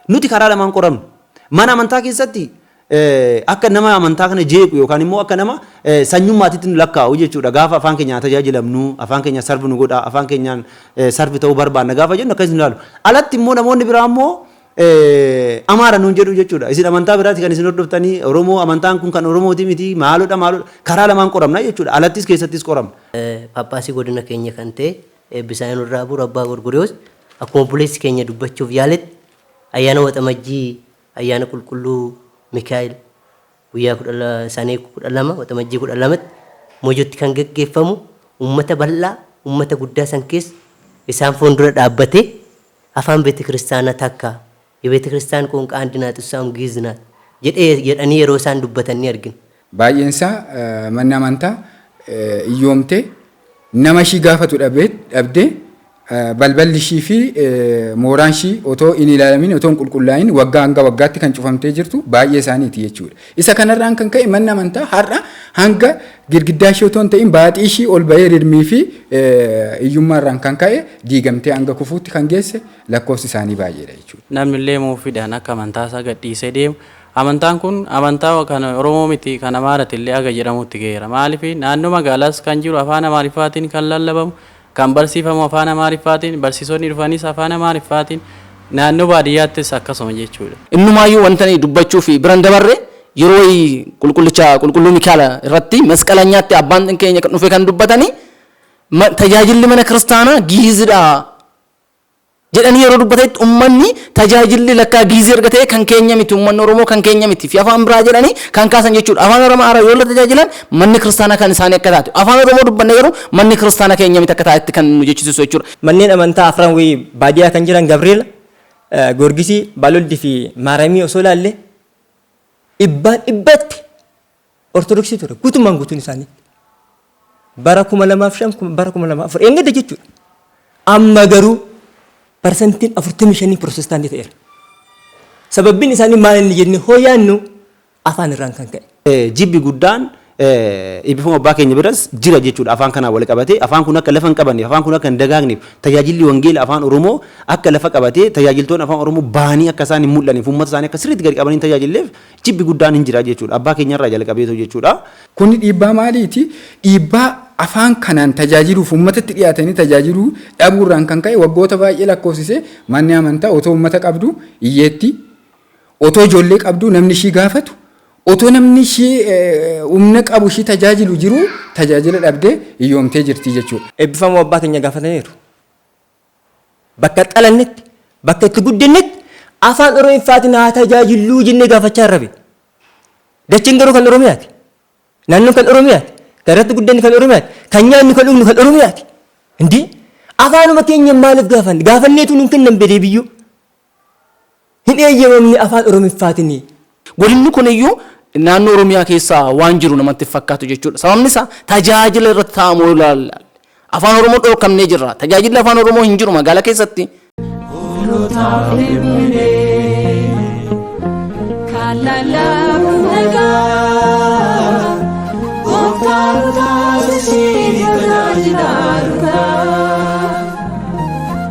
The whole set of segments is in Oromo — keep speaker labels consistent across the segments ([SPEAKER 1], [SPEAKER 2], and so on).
[SPEAKER 1] Nuti karaa lamaan qoramna. Mana amantaa keessatti akka nama amantaa kana jeequ yookaan immoo akka nama sanyummaatitti nu lakkaa'u jechuudha. Gaafa afaan keenyaan tajaajilamnu, afaan keenyaan sarvi nu godha, afaan keenyaan sarvi ta'uu barbaanna gaafa jennu akkas nu ilaalu. Alatti immoo namoonni biraa immoo amaara nuun jedhu jechuudha. Isin amantaa biraati kan isin hordoftanii Oromoo amantaan kun kan Oromooti miti maalodha maalodha karaa lamaan qoramna jechuudha. Alattis keessattis qoramna. Phaaphaasii godina
[SPEAKER 2] keenya kan ta'e Eebbi isaa nurra haa buru Abbaa Gorgoriyoos. Akkuma obboleessi keenya dubbachuuf yaaletti ayyaana waxamajjii ayyaana qulqulluu Mikaa'el guyyaa 12 isaanii 12 waxamajjii 12tti Mojotti kan gaggeeffamu uummata bal'aa uummata guddaa san keessa isaan fuundura dhaabbatee afaan beetekiristaanaa takka Yebetekiristiyaan qoonqaa andi naat issaawun Giiz naat jedhee jedhanii yeroo isaan dubbatan ni argina. Baay'een isaa
[SPEAKER 3] manni amantaa iyyoomtee nama ishii gaafatu dhabdee balballi ishii fi mooraan ishii otoo hin ilaalamin otoo hin qulqullaa'in waggaa hanga waggaatti kan cufamtee jirtu baay'ee isaaniiti jechuudha. Isa kanarraan kan ka'e manni amantaa har'a hanga girgiddaa ishii otoo hin ta'in baaxii ishii ol ba'ee rirmii fi iyyummaarraan kan ka'e diigamtee hanga kufuutti kan geesse lakkoofsi isaanii baay'eedha jechuudha. Namni illee muuffiidhaan
[SPEAKER 4] akka amantaa isaa gad dhiisee deemu, amantaan kun amantaa kan Oromoo miti kan Amaarati illee haga jedhamuutti gaheera. Maaliif naannoo magaalaas kan jiru afaan Amaariffaatiin kan lallabamu, kan barsiifamu afaan Amaariffaatiin, barsiisonni dhufanis afaan Amaariffaatiin, naannoo baadiyyaattis akkasuma jechuudha. Innumaayyuu wanta ani
[SPEAKER 5] dubbachuuf bira hin dabarre, yeroo wayii qulqullicha qulqulluu Mikaa'el irratti masqalanyaatti abbaan keenya kan dhufe kan dubbatani, tajaajilli mana kiristaanaa Gi'iizidha jedhanii yeroo dubbatanitti ummanni tajaajilli lakkaa giizii erga ta'ee kan keenya miti ummanni Oromoo kan keenya miti fi afaan biraa jedhanii kan kaasan jechuudha. Afaan Oromaaraa yoo la tajaajilan manni kiristaanaa kan isaanii akka taate afaan Oromoo dubbanne garuu manni kiristaana keenya miti akka taatetti kan nu jechisiisu jechuudha. Manneen amantaa afran
[SPEAKER 6] wayii baadiyaa kan jiran Gabreela, Goorgisii, Baaloldi fi Maaramii osoo ilaalle dhibbaa dhibbatti Ortodoksii ture guutummaan guutuun isaanii. Bara 2005 bara 2004 eeggadda jechuudha. Amma garuu parsantiin 45 pirootestaantii ta'eera. Sababbiin isaanii maal inni jennee hoo yaannu afaan irraan kan ka'e. Jibbi guddaan
[SPEAKER 1] eebbifama abbaa keenya biras jira jechuudha afaan kanaan wal qabatee afaan kun akka lafa hin qabanneef afaan kun akka hin dagaagneef tajaajilli wangeela afaan oromoo akka lafa qabatee tajaajiltoonni afaan oromoo bahanii akka isaan hin mul'anneef uummata isaanii akka sirriitti gadi qabanii hin tajaajilleef jibbi guddaan hin jira jechuudha. Abbaa keenya irraa jalqabeetu jechuudha. Kuni dhiibbaa
[SPEAKER 3] maaliiti? Dhiibbaa afaan kanaan tajaajiluuf ummatatti dhiyaatanii tajaajiluu dhabuu irraan kan ka'e waggoota baay'ee lakkoofsise manni amantaa otoo ummata qabduu hiyyeettii, otoo ijoollee qabduu namni ishii gaafatu, otoo namni ishii humna qabu ishii tajaajilu jiruu tajaajila dhabdee hiyyoomtee jirti jechuudha. Eebbifamoo abbaa keenya
[SPEAKER 6] gaafataniiru. Bakka dhalannetti, bakka itti guddannetti Afaan Oromiffaatiin haa tajaajilluu jennee gaafachaa irra bee. Dacheen garuu kan Oromiyaati. Naannoon kan Oromiyaati. Kan irratti guddanne kan Oromiyaati. Kan nyaannu kan dhugnu kan Oromiyaati. Indee! Afaanuma keenya maaliif gaafanna? Gaafanneetuu nuun kennan bee deebiyyuu. hin eeyyamamne Afaan Oromiffaatiin. Godinni kun
[SPEAKER 5] iyyuu naannoo Oromiyaa keessa waan jiru namatti hin fakkaatu jechuu dha. Sababni isaa tajaajila irratti taa'amu yoo ilaalle Afaan Oromoo dhoorkamnee jirra. Tajaajilli Afaan Oromoo hin jiru magaalaa keessatti. Hoolotaaf hin buune kan lallaabu nagaa Gooftaa nu taasisii tajaajilaa dhugaa.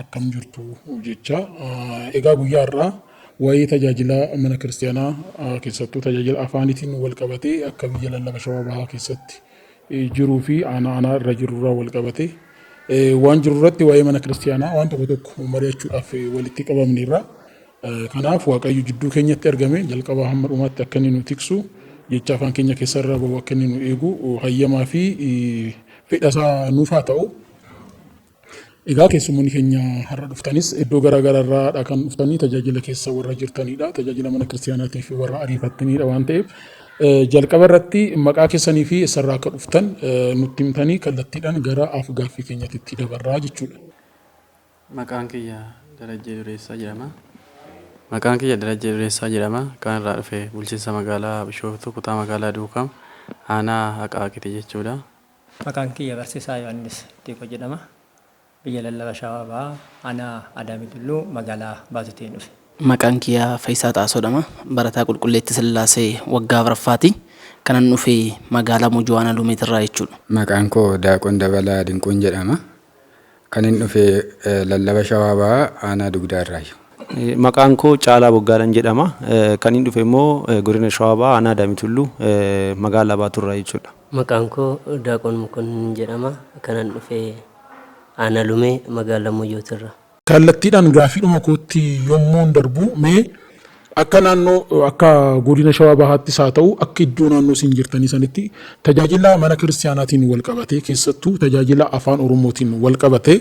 [SPEAKER 7] akkam jirtu jecha egaa guyyaa har'aa waa'ee tajaajila mana kiristaanaa keessattuu tajaajila afaanitiin wal qabatee akka biyya lallaba shawaa bahaa keessatti jiruu fi aanaa aanaa irra jirurraa wal qabatee waan jiru irratti waa'ee mana kiristaanaa waan tokko tokko mari'achuudhaaf walitti qabamneerra. Kanaaf Waaqayyo jidduu keenyatti argame jalqaba hamma dhumaatti akka inni nu tiksu jecha afaan keenya keessarraa bahu akka inni nu eegu hayyamaa fi fedhasaa nuuf haa ta'u. Egaa keessummoonni keenya har'a dhuftanis iddoo garaa garaarraadha kan dhuftanii tajaajila keessa warra jirtanidha. Tajaajila mana kiristiyaanaatiif warra ariifattanidha waan ta'eef jalqaba irratti maqaa keessanii fi eessarraa akka dhuftan nutti himtanii kallattiidhaan gara af-gaaffii keenyatti itti dabarraa jechuudha. Maqaan
[SPEAKER 4] kiyya Darajjee Dureessaa jedhama. Maqaan kiyya Darajjee Dureessaa jedhama. Kan irraa dhufe bulchiinsa magaalaa Bishooftuu kutaa magaalaa Duukam aanaa
[SPEAKER 6] Aqaaqiti
[SPEAKER 4] jechuudha.
[SPEAKER 6] Maqaan kiyya
[SPEAKER 4] Barsiisaa
[SPEAKER 6] Yohaannis Diikoo jedhama. Biyya Lallaba Shawaa Bahaa, Aanaa Adaamii Tulluu, Magaalaa Baatutiin dhufe. Maqaan kiyya
[SPEAKER 5] Fayisaa Xaasoo dhama. Barataa Qulqulleetti Sillaasee waggaa afraffaati. Kanan dhufe Magaalaa Mojoo Aanaa Lumeetirraa jechuudha. Maqaan koo Daaqon
[SPEAKER 3] Dabalaa Dinquun jedhama. Kanin dhufe lallaba Shawaa Bahaa aanaa Dugdaa irraayi. Maqaan koo
[SPEAKER 1] Caalaa Boggaadhan jedhama. Kanin dhufe immoo godina Shawaa Bahaa aanaa Daamii Tulluu magaalaa Baatuu irraa jechuudha. Maqaan koo
[SPEAKER 2] Daaqoon Mokonnin jedhama. Kanan dhufe aanaa Lumee magaalaa Moyyootirraa. Kallattiidhaan
[SPEAKER 7] gaaffiidhuma kootti yommuun darbu, mee akka naannoo, akka Godina Shawaa Bahaattis haa ta'u, akka iddoo naannoo isin jirtanii sanitti tajaajila mana kiristiyaanaatiin wal qabatee, keessattuu tajaajila Afaan Oromootiin wal qabatee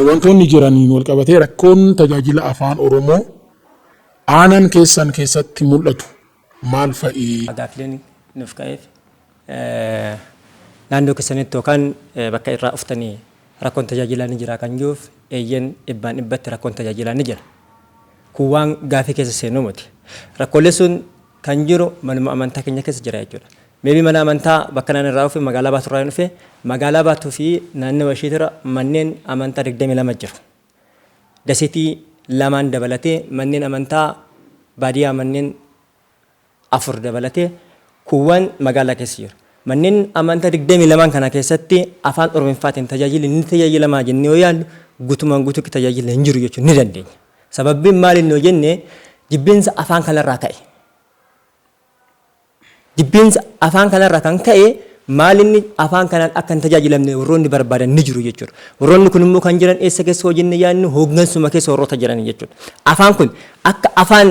[SPEAKER 7] wantoonni jiraniin wal qabatee rakkoon tajaajila Afaan Oromoo aanaan keessan keessatti mul'atu, maal fa'i? Gaaffileen
[SPEAKER 6] nuuf ka'eef naannoo keessanitti yookaan bakka irraa dhuftanii rakkoon tajaajilaa ni jiraa kan jiruuf eeyyeen dhibbaan dhibbatti rakkoon tajaajilaa ni jira. Kun waan gaaffii keessa seenu miti. Rakkoolee sun kan jiru manuma amantaa keenya keessa jira jechuudha. Meebii mana amantaa bakka naan irraa dhufe magaalaa Baatuu irraa hin dhufe magaalaa Baatuu fi naannawa ishiitira manneen amantaa 22 jiru. Dasetii lamaan dabalatee manneen amantaa baadiyaa manneen 4 dabalatee kuuwwaan magaalaa keessa jiru. Manneen amantaa 22n kana keessatti afaan oromiffaatiin tajaajilli ni tajaajilamaa jennee yoo yaallu gutumaan gutuutti tajaajilli hin jiru jechuu ni dandeenya. Sababbiin maaliin yoo jenne jibbinsa afaan kanarraa ka'e. Jibbiinsa afaan kanarraa kan ka'e maalinni afaan kanaan akka hin tajaajilamne warroonni barbaadan ni jiru jechuudha. Warroonni kun immoo kan jiran eessa keessa yoo jenne yaadnu hooggansuma keessa warroota jirani jechuudha. Afaan kun akka afaan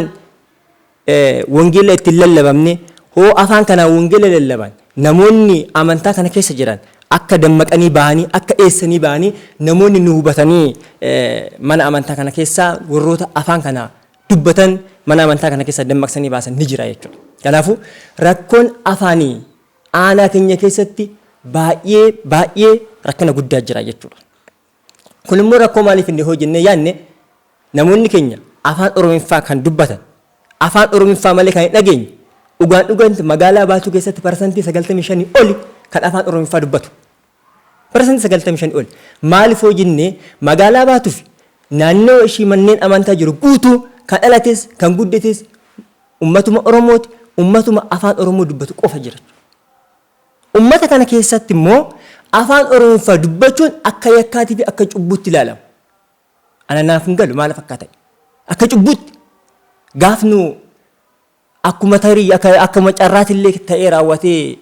[SPEAKER 6] wangeela itti hin lallabamne hoo afaan kanaan wangeela lallaban namoonni amantaa kana keessa jiran akka dammaqanii bahanii akka eessanii bahanii namoonni nu hubatanii mana amantaa kana keessaa warroota afaan kana dubbatan mana amantaa kana keessaa dammaqsanii baasan ni jira jechuudha. Kanaafuu rakkoon afaanii aanaa keenya keessatti baay'ee baay'ee rakkina guddaa jira jechuudha. Kun immoo rakkoo maalii fidne hoo jennee yaadne namoonni keenya afaan Oromiffaa kan dubbatan afaan Oromiffaa malee kan hin dhageenye dhugaan dhuganti magaalaa baatuu keessatti parsantii 95 oli kan afaan Oromiffaa dubbatu. Parsantii 95 ol. Maaliif yoo jenne magaalaa baatuufi naannawa ishii manneen amantaa jiru guutuu kan dhalates kan guddates ummatuma Oromooti, ummatuma afaan Oromoo dubbatu qofa jira jechuudha. Ummata kana keessatti immoo afaan Oromoffaa dubbachuun akka yakkaatiifi akka cubbuutti ilaalama. Ana naaf hin galu maaliif akka ta'e. Akka cubbuutti gaaf nu Akkuma tarii akka akkuma carraatillee ta'ee raawwatee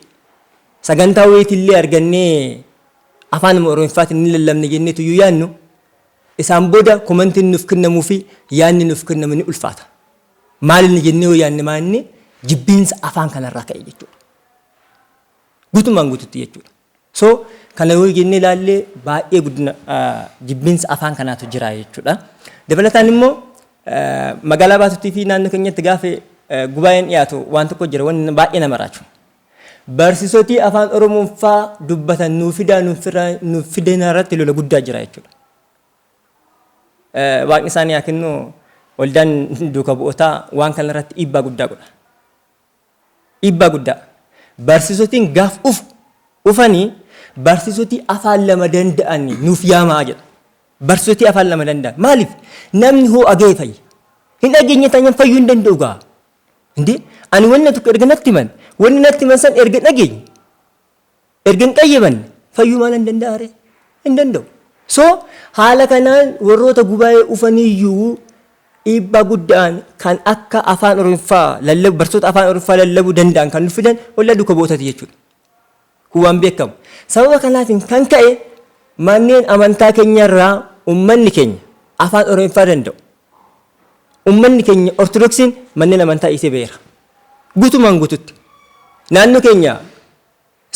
[SPEAKER 6] sagantaa wayiitillee argannee afaanuma Oromiffaatiin ni lallabna jenneetu yoo yaadnu isaan booda komantiin nuuf kennamuu fi yaadni nuuf kennamu ni ulfaata. Maalinni jennee yoo yaadne maalinni jibbiinsa afaan kanarraa ka'e jechuudha. Guutummaan guututti jechuudha. So, kana yoo jennee ilaalle baay'ee guddina jibbinsa afaan kanaatu jira jechuudha. Dabalataan immoo magaalaa baatutti fi naannoo keenyatti gaafa gubaa'een dhiyaatu waan tokko jira wanni baay'ee nama raachu. Barsiisotii afaan Oromoon faa dubbatan nuuf fidaa nuuf fidina irratti lola guddaa jira jechuudha. Waaqni isaanii haa kennu waldaan duuka bu'ootaa waan kana irratti dhiibbaa guddaa godha. Dhiibbaa guddaa. Barsiisotiin gaaf dhufu dhufani barsiisotii afaan lama danda'ani nuuf yaamaa jedha. Barsiisotii afaan lama danda'an maaliif namni hoo aga'e fayya. Hin dhageenye taanaan fayyuu hin danda'u gaa. Indee ani wanna tokko erga natti himan wanna natti himan san erga dhageenye Erga hin qayyabanne fayyuu maala hin danda'a ree? Hin danda'u. So haala kanaan warroota gubaa'ee ufaniiyyuu dhiibbaa gudda'aan kan akka afaan oromiffaa lallabu barsoota afaan oromiffaa lallabu danda'an kan nu fidan ollaa duuka bu'ootati jechuudha. Kun waan beekamu. Sababa kanaatiin kan ka'e manneen amantaa keenyarraa ummanni keenya afaan oromiffaa danda'u. Ummanni keenya ortodoksiin manneen amantaa dhiisee ba'eera. Guutumaan guututti naannoo keenya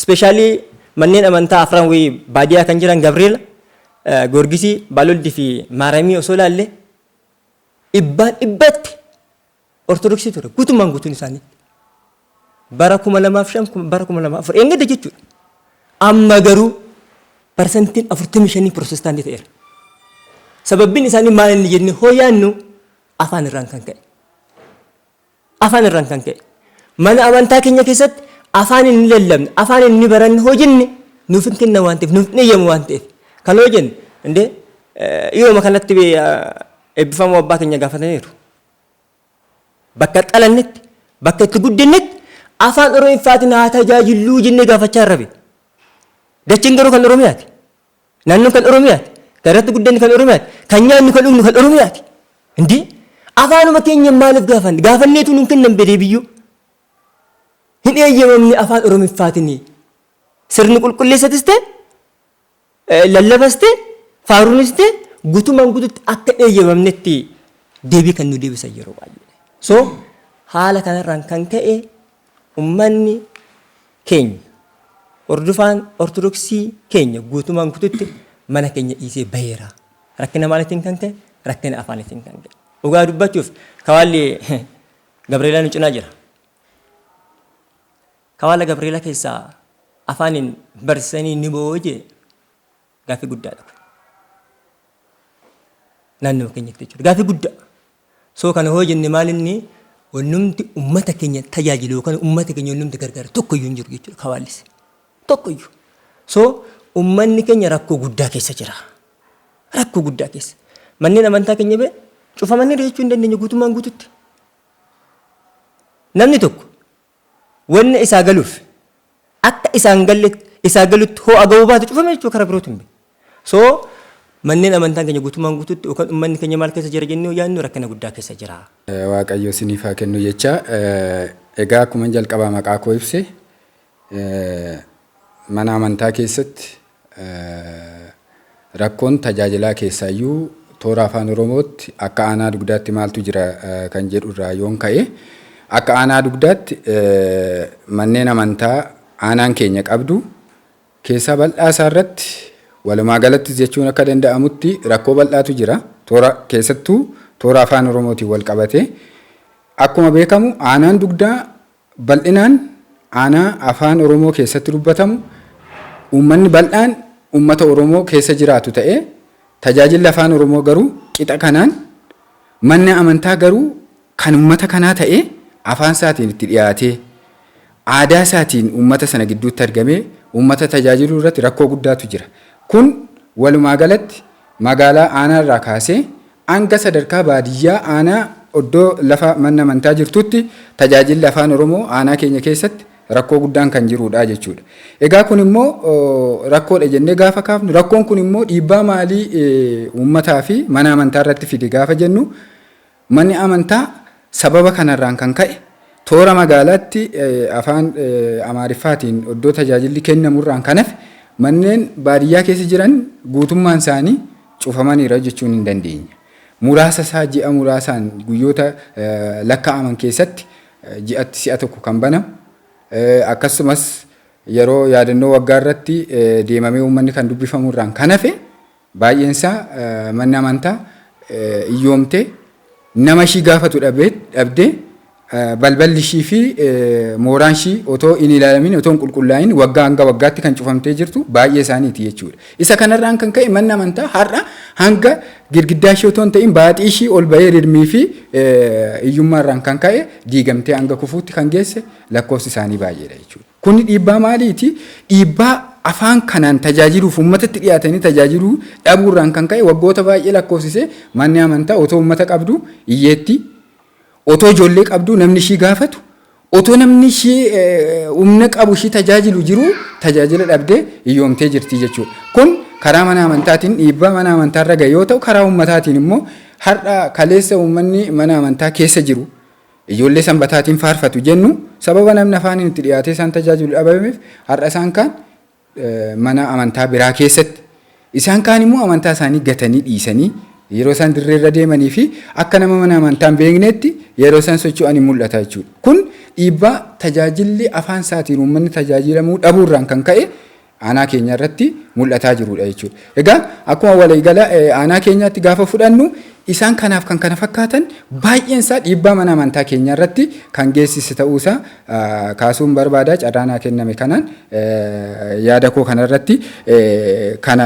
[SPEAKER 6] specially manneen amantaa afran wayii baadiyaa kan jiran Gabriela, Goorgisii, Baaloldi fi Maaramii osoo ilaalle dhibbaan dhibbatti Ortodoksii ture guutumaan guutuun isaanii. Bara kuma lamaaf shan bara kuma lamaaf afur eeggadda jechuudha. Amma garuu parsantiin afurtamii shanii pirootestaantii ta'eera. Sababbiin isaanii maal inni jennee hoo yaannu afaan irraan kan ka'e. Afaan irraan kan ka'e. Mana amantaa keenya keessatti afaan inni lallabne, afaan inni baranne hojinne nuuf hin kenna waan ta'eef, nuuf hin eeyyamu waan ta'eef. Kan yoo jenne, indee dhiyooma kanatti eebbifamoo abbaa keenya gaafataniiru. Bakka dhalannetti, bakka itti guddinnetti afaan Oromiffaatiin haa tajaajilluu jennee gaafachaa irra bee. Dachiin garuu kan Oromiyaati. Naannoon kan Oromiyaati. Kan irratti guddanne kan Oromiyaati. Kan nyaannu kan dhugnu kan Oromiyaati. Hindi afaanuma keenya maaliif gaafanne? Gaafanneetu nuun kennan bedee biyyuu. Hin eeyyamamne afaan Oromiffaatinii. Sirni qulqulleessatis ta'e lallabas ta'e faaruunis ta'e gutumaan gututti akka hin eeyyamamnetti deebii kan nu deebisan yeroo baay'ee. So haala kanarraan kan ka'e ummanni keenya. Hordofaan Ortodoksii keenya guutumaan guututti mana keenya dhiisee baheera. Rakkina maaliitiin kan ka'e? Rakkina afaaniitiin kan ka'e. Dhugaa dubbachuuf kawaalli Gabreelaa nu cinaa jira. Kawaala Gabreelaa keessaa afaaniin barsiisanii ni booje. Gaaffii guddaadha kun. Naannoo keenyatti jechuudha. Gaaffii guddaa. So kana hoo jenne maal inni wannumti ummata keenya tajaajilu yookaan ummata keenya wannumti gargaaru tokko iyyuu hin jiru jechuudha kawaallise. Tokko iyyuu. So ummanni keenya rakkoo guddaa keessa jira. Rakkoo guddaa keessa. Manneen amantaa keenya bee cufamaniiru jechuu hin dandeenye guutummaan guututti. Namni tokko wanna isaa galuuf akka isaan galle isaa galutti hoo'a ga'uu baatu cufame jechuudha karaa birootiin bee. So manneen amantaan keenya guutummaan guututti yookaan ummanni keenya maal keessa jira jennee yoo yaadnu rakkina guddaa keessa jira. Waaqayyo isiniif
[SPEAKER 3] haa kennu jecha egaa akkuman jalqabaa maqaa koo ibse mana amantaa keessatti Rakkoon tajaajilaa keessaayyuu toora Afaan Oromootti akka Aanaa Dugdaatti maaltu jira kan jedhu irraa yoon ka'e, akka Aanaa Dugdaatti manneen amantaa Aanaan keenya qabdu keessaa bal'aa isaa irratti walumaa galattis jechuun akka danda'amutti rakkoo bal'aatu jira. Toora keessattuu toora Afaan Oromootiin wal qabatee akkuma beekamu Aanaan Dugdaa Bal'inaan aanaa Afaan Oromoo keessatti dubbatamu uummanni bal'aan uummata Oromoo keessa jiraatu ta'ee tajaajilli Afaan Oromoo garuu qixa kanaan manni amantaa garuu kan uummata kanaa ta'ee afaan isaatiin itti dhiyaatee aadaa isaatiin uummata sana gidduutti argamee uummata tajaajiluu irratti rakkoo guddaatu jira. Kun walumaa galatti Magaalaa Aanaa irraa kaasee hanga sadarkaa baadiyyaa Aanaa oddoo lafa manna amantaa jirtuutti tajaajilli Afaan Oromoo Aanaa keenya keessatti rakkoo guddaan kan jiruudha jechuudha. Egaa kun immoo rakkoodha jennee gaafa kaafnu rakkoon kun immoo dhiibbaa maalii uummataa fi mana amantaa irratti fide gaafa jennu Manni amantaa sababa kanarraan kan ka'e toora magaalaatti afaan Amaariffaatiin oddoo tajaajilli kennamurraan kan hafe manneen baadiyyaa keessa jiran guutummaan isaanii cufamaniira jechuun hin dandeenya. Muraasa isaa ji'a muraasaan guyyoota lakkaa'aman keessatti ji'atti si'a tokko kan banamu akkasumas yeroo yaadannoo waggaa irratti deemamee uummanni kan dubbifamurraan kan hafe Baay'eensaa manni amantaa iyyoomtee nama ishii gaafatu dhabdee balballi ishii fi mooraan ishii otoo hin ilaalamin otoo hin qulqullaa'in waggaa hanga waggaatti kan cufamtee jirtu baay'ee isaaniiti jechuudha. Isa kanarraan kan ka'e manni amantaa har'a hanga girgiddaa ishii otoo hin ta'in baaxii ishii ol ba'ee rirmii fi iyyummaarraan kan ka'e diigamtee hanga kufuutti kan geesse lakkoofsi isaanii baay'eedha jechuudha. Kun dhiibbaa maaliiti? Dhiibbaa afaan kanaan tajaajiluuf uummatatti dhiyaatanii tajaajiluu dhabuu irraan kan ka'e waggoota baay'ee lakkoofsise manni amantaa otoo uummata qabdu iyyeettii, otoo ijoollee qabdu namni ishii gaafatu, otoo namni ishii humna qabu ishii tajaajilu jiru tajaajila dhabdee iyyoomtee jirti jechuudha. Kun karaa mana amantaatiin dhiibbaa mana amantaa irra ga'e yoo ta'u karaa uummataatiin immoo har'a kaleessa uummanni mana amantaa keessa jiru Ijoollee Sanbataatiin faarfatu jennu sababa namni afaaniin itti dhiyaatee isaan tajaajilu dhabameef har'a isaan kaan mana amantaa biraa keessatti isaan kaan immoo amantaa isaanii gatanii dhiisanii yeroo isaan dirree irra deemanii fi akka nama mana amantaa hin beekneetti yeroo isaan socho'anii mul'ata jechuudha. Kun dhiibbaa tajaajilli afaan isaatiin uummanni tajaajilamuu dhabuurraan kan ka'e aanaa keenya irratti mul'ataa jiruudha jechuudha. Egaa akkuma waliigala aanaa keenyaatti gaafa fudhannu isaan kanaaf kan kana fakkaatan baay'een isaa dhiibbaa mana amantaa keenya irratti kan geessise ta'uusaa kaasuun barbaada carraa naa kenname kanaan yaada koo kanarratti kana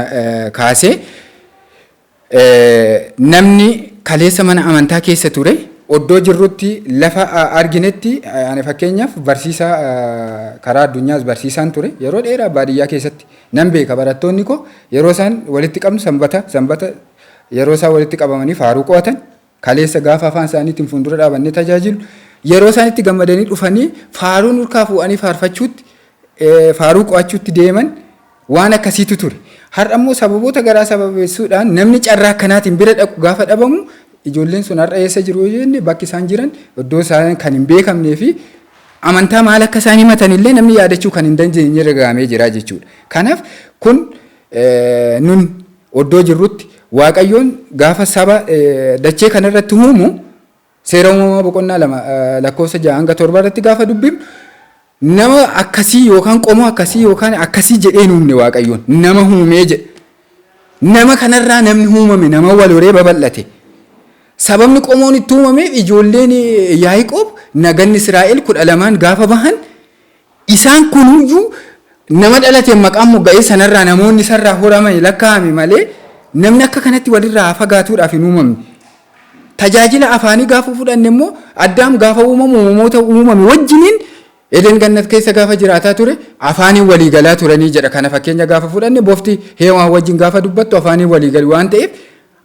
[SPEAKER 3] kaasee Namni kaleessa mana amantaa keessa ture oddoo jirrutti lafa arginetti ani fakkeenyaaf barsiisaa karaa addunyaas barsiisaan ture yeroo dheeraa baadiyyaa keessatti nan beeka barattoonni koo yeroo isaan walitti qabnu sanbata sanbata yeroo isaan walitti qabamanii faaruu qo'atan Kaleessa gaafa afaan isaaniitiin fuundura dhaabannee tajaajilu yeroo isaan itti gammadanii dhufanii faaruu nurkaa fuudhanii faarfachuutti faaruu qo'achuutti deeman waan akkasiitu ture. Har'a immoo sababoota garaa sababeessuudhaan namni carraa akkanaatiin bira dhaqu gaafa dhabamu ijoolleen sun har'a eessa jiru jenne bakki isaan jiran iddoo isaan kan hin beekamnee fi amantaa maal akka isaan himatan illee namni yaadachuu kan hin dandeenye irra gahamee jira jechuudha. Kanaaf kun Nun oddoo jirrutti Waaqayyoon gaafa saba dachee kana irratti uumu seera uumamaa boqonnaa lama lakkoofsa ja'a hanga torba irratti gaafa dubbifnu nama akkasii yookaan qomoo akkasii yookaan akkasii jedhee hin uumne Waaqayyoon nama uumee jedha. Nama kanarraa namni uumame nama wal horee babal'ate. Sababni qomoon itti uumameef ijoolleen Yaaqoob naganni Israa'el kudha lamaan gaafa bahan Isaan kunuyyuu nama dhalateen maqaan mogga'ee sanarraa namoonni isarraa horamani lakkaa'ame malee namni akka kanatti walirraa haa fagaatuudhaaf hin uumamne. Tajaajila afaanii gaafa fudhanne immoo Addaam gaafa uumamu uumamoota uumame wajjiniin Eden Gannat keessa gaafa jiraataa ture afaaniin walii galaa turanii jedha. Kana fakkeenya gaafa fudhanne bofti Heewaan wajjin gaafa dubbattu afaaniin walii gali waan ta'eef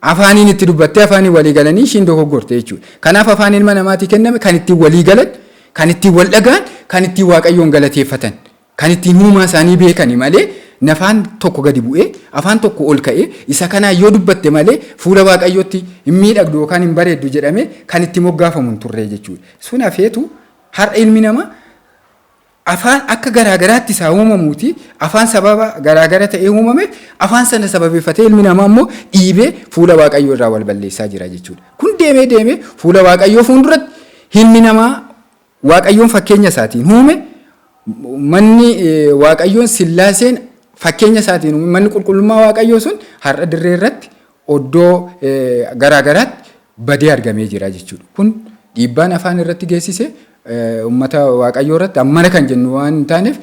[SPEAKER 3] Afaaniin itti dubbattee afaaniin walii galanii ishiin dogoggorte jechuudha. Kanaaf afaan ilma namaatii kenname kan ittiin walii galan, kan ittiin wal dhaga'an, kan ittiin Waaqayyoon galateeffatan, kan ittiin uumaa isaanii beekani malee nafaan tokko gadi bu'ee, afaan tokko ol ka'ee isa kanaan yoo dubbatte malee fuula Waaqayyootti hin miidhagdu yookaan hin bareeddu jedhamee kan itti moggaafamu hin turree jechuudha. Sun hafeetu har'a ilmi namaa Afaan akka garaa garaatti isaa uumamuuti. Afaan sababa garaa gara ta'ee uumame, afaan sana sababeeffatee ilmi namaa immoo dhiibee fuula Waaqayyoo irraa wal balleessaa jira jechuudha. Kun deemee deemee fuula Waaqayyoo fuulduratti ilmi namaa Waaqayyoon fakkeenya isaatiin uume, manni eh, Waaqayyoon sillaaseen fakkeenya isaatiin uume, manni qulqullummaa Waaqayyoo sun har'a dirree irratti oddoo garaa garaatti badee argamee jira jechuudha. Kun dhiibbaan afaan irratti geessise uummata Waaqayyoo irratti ammana kan jennu waan hin taaneef.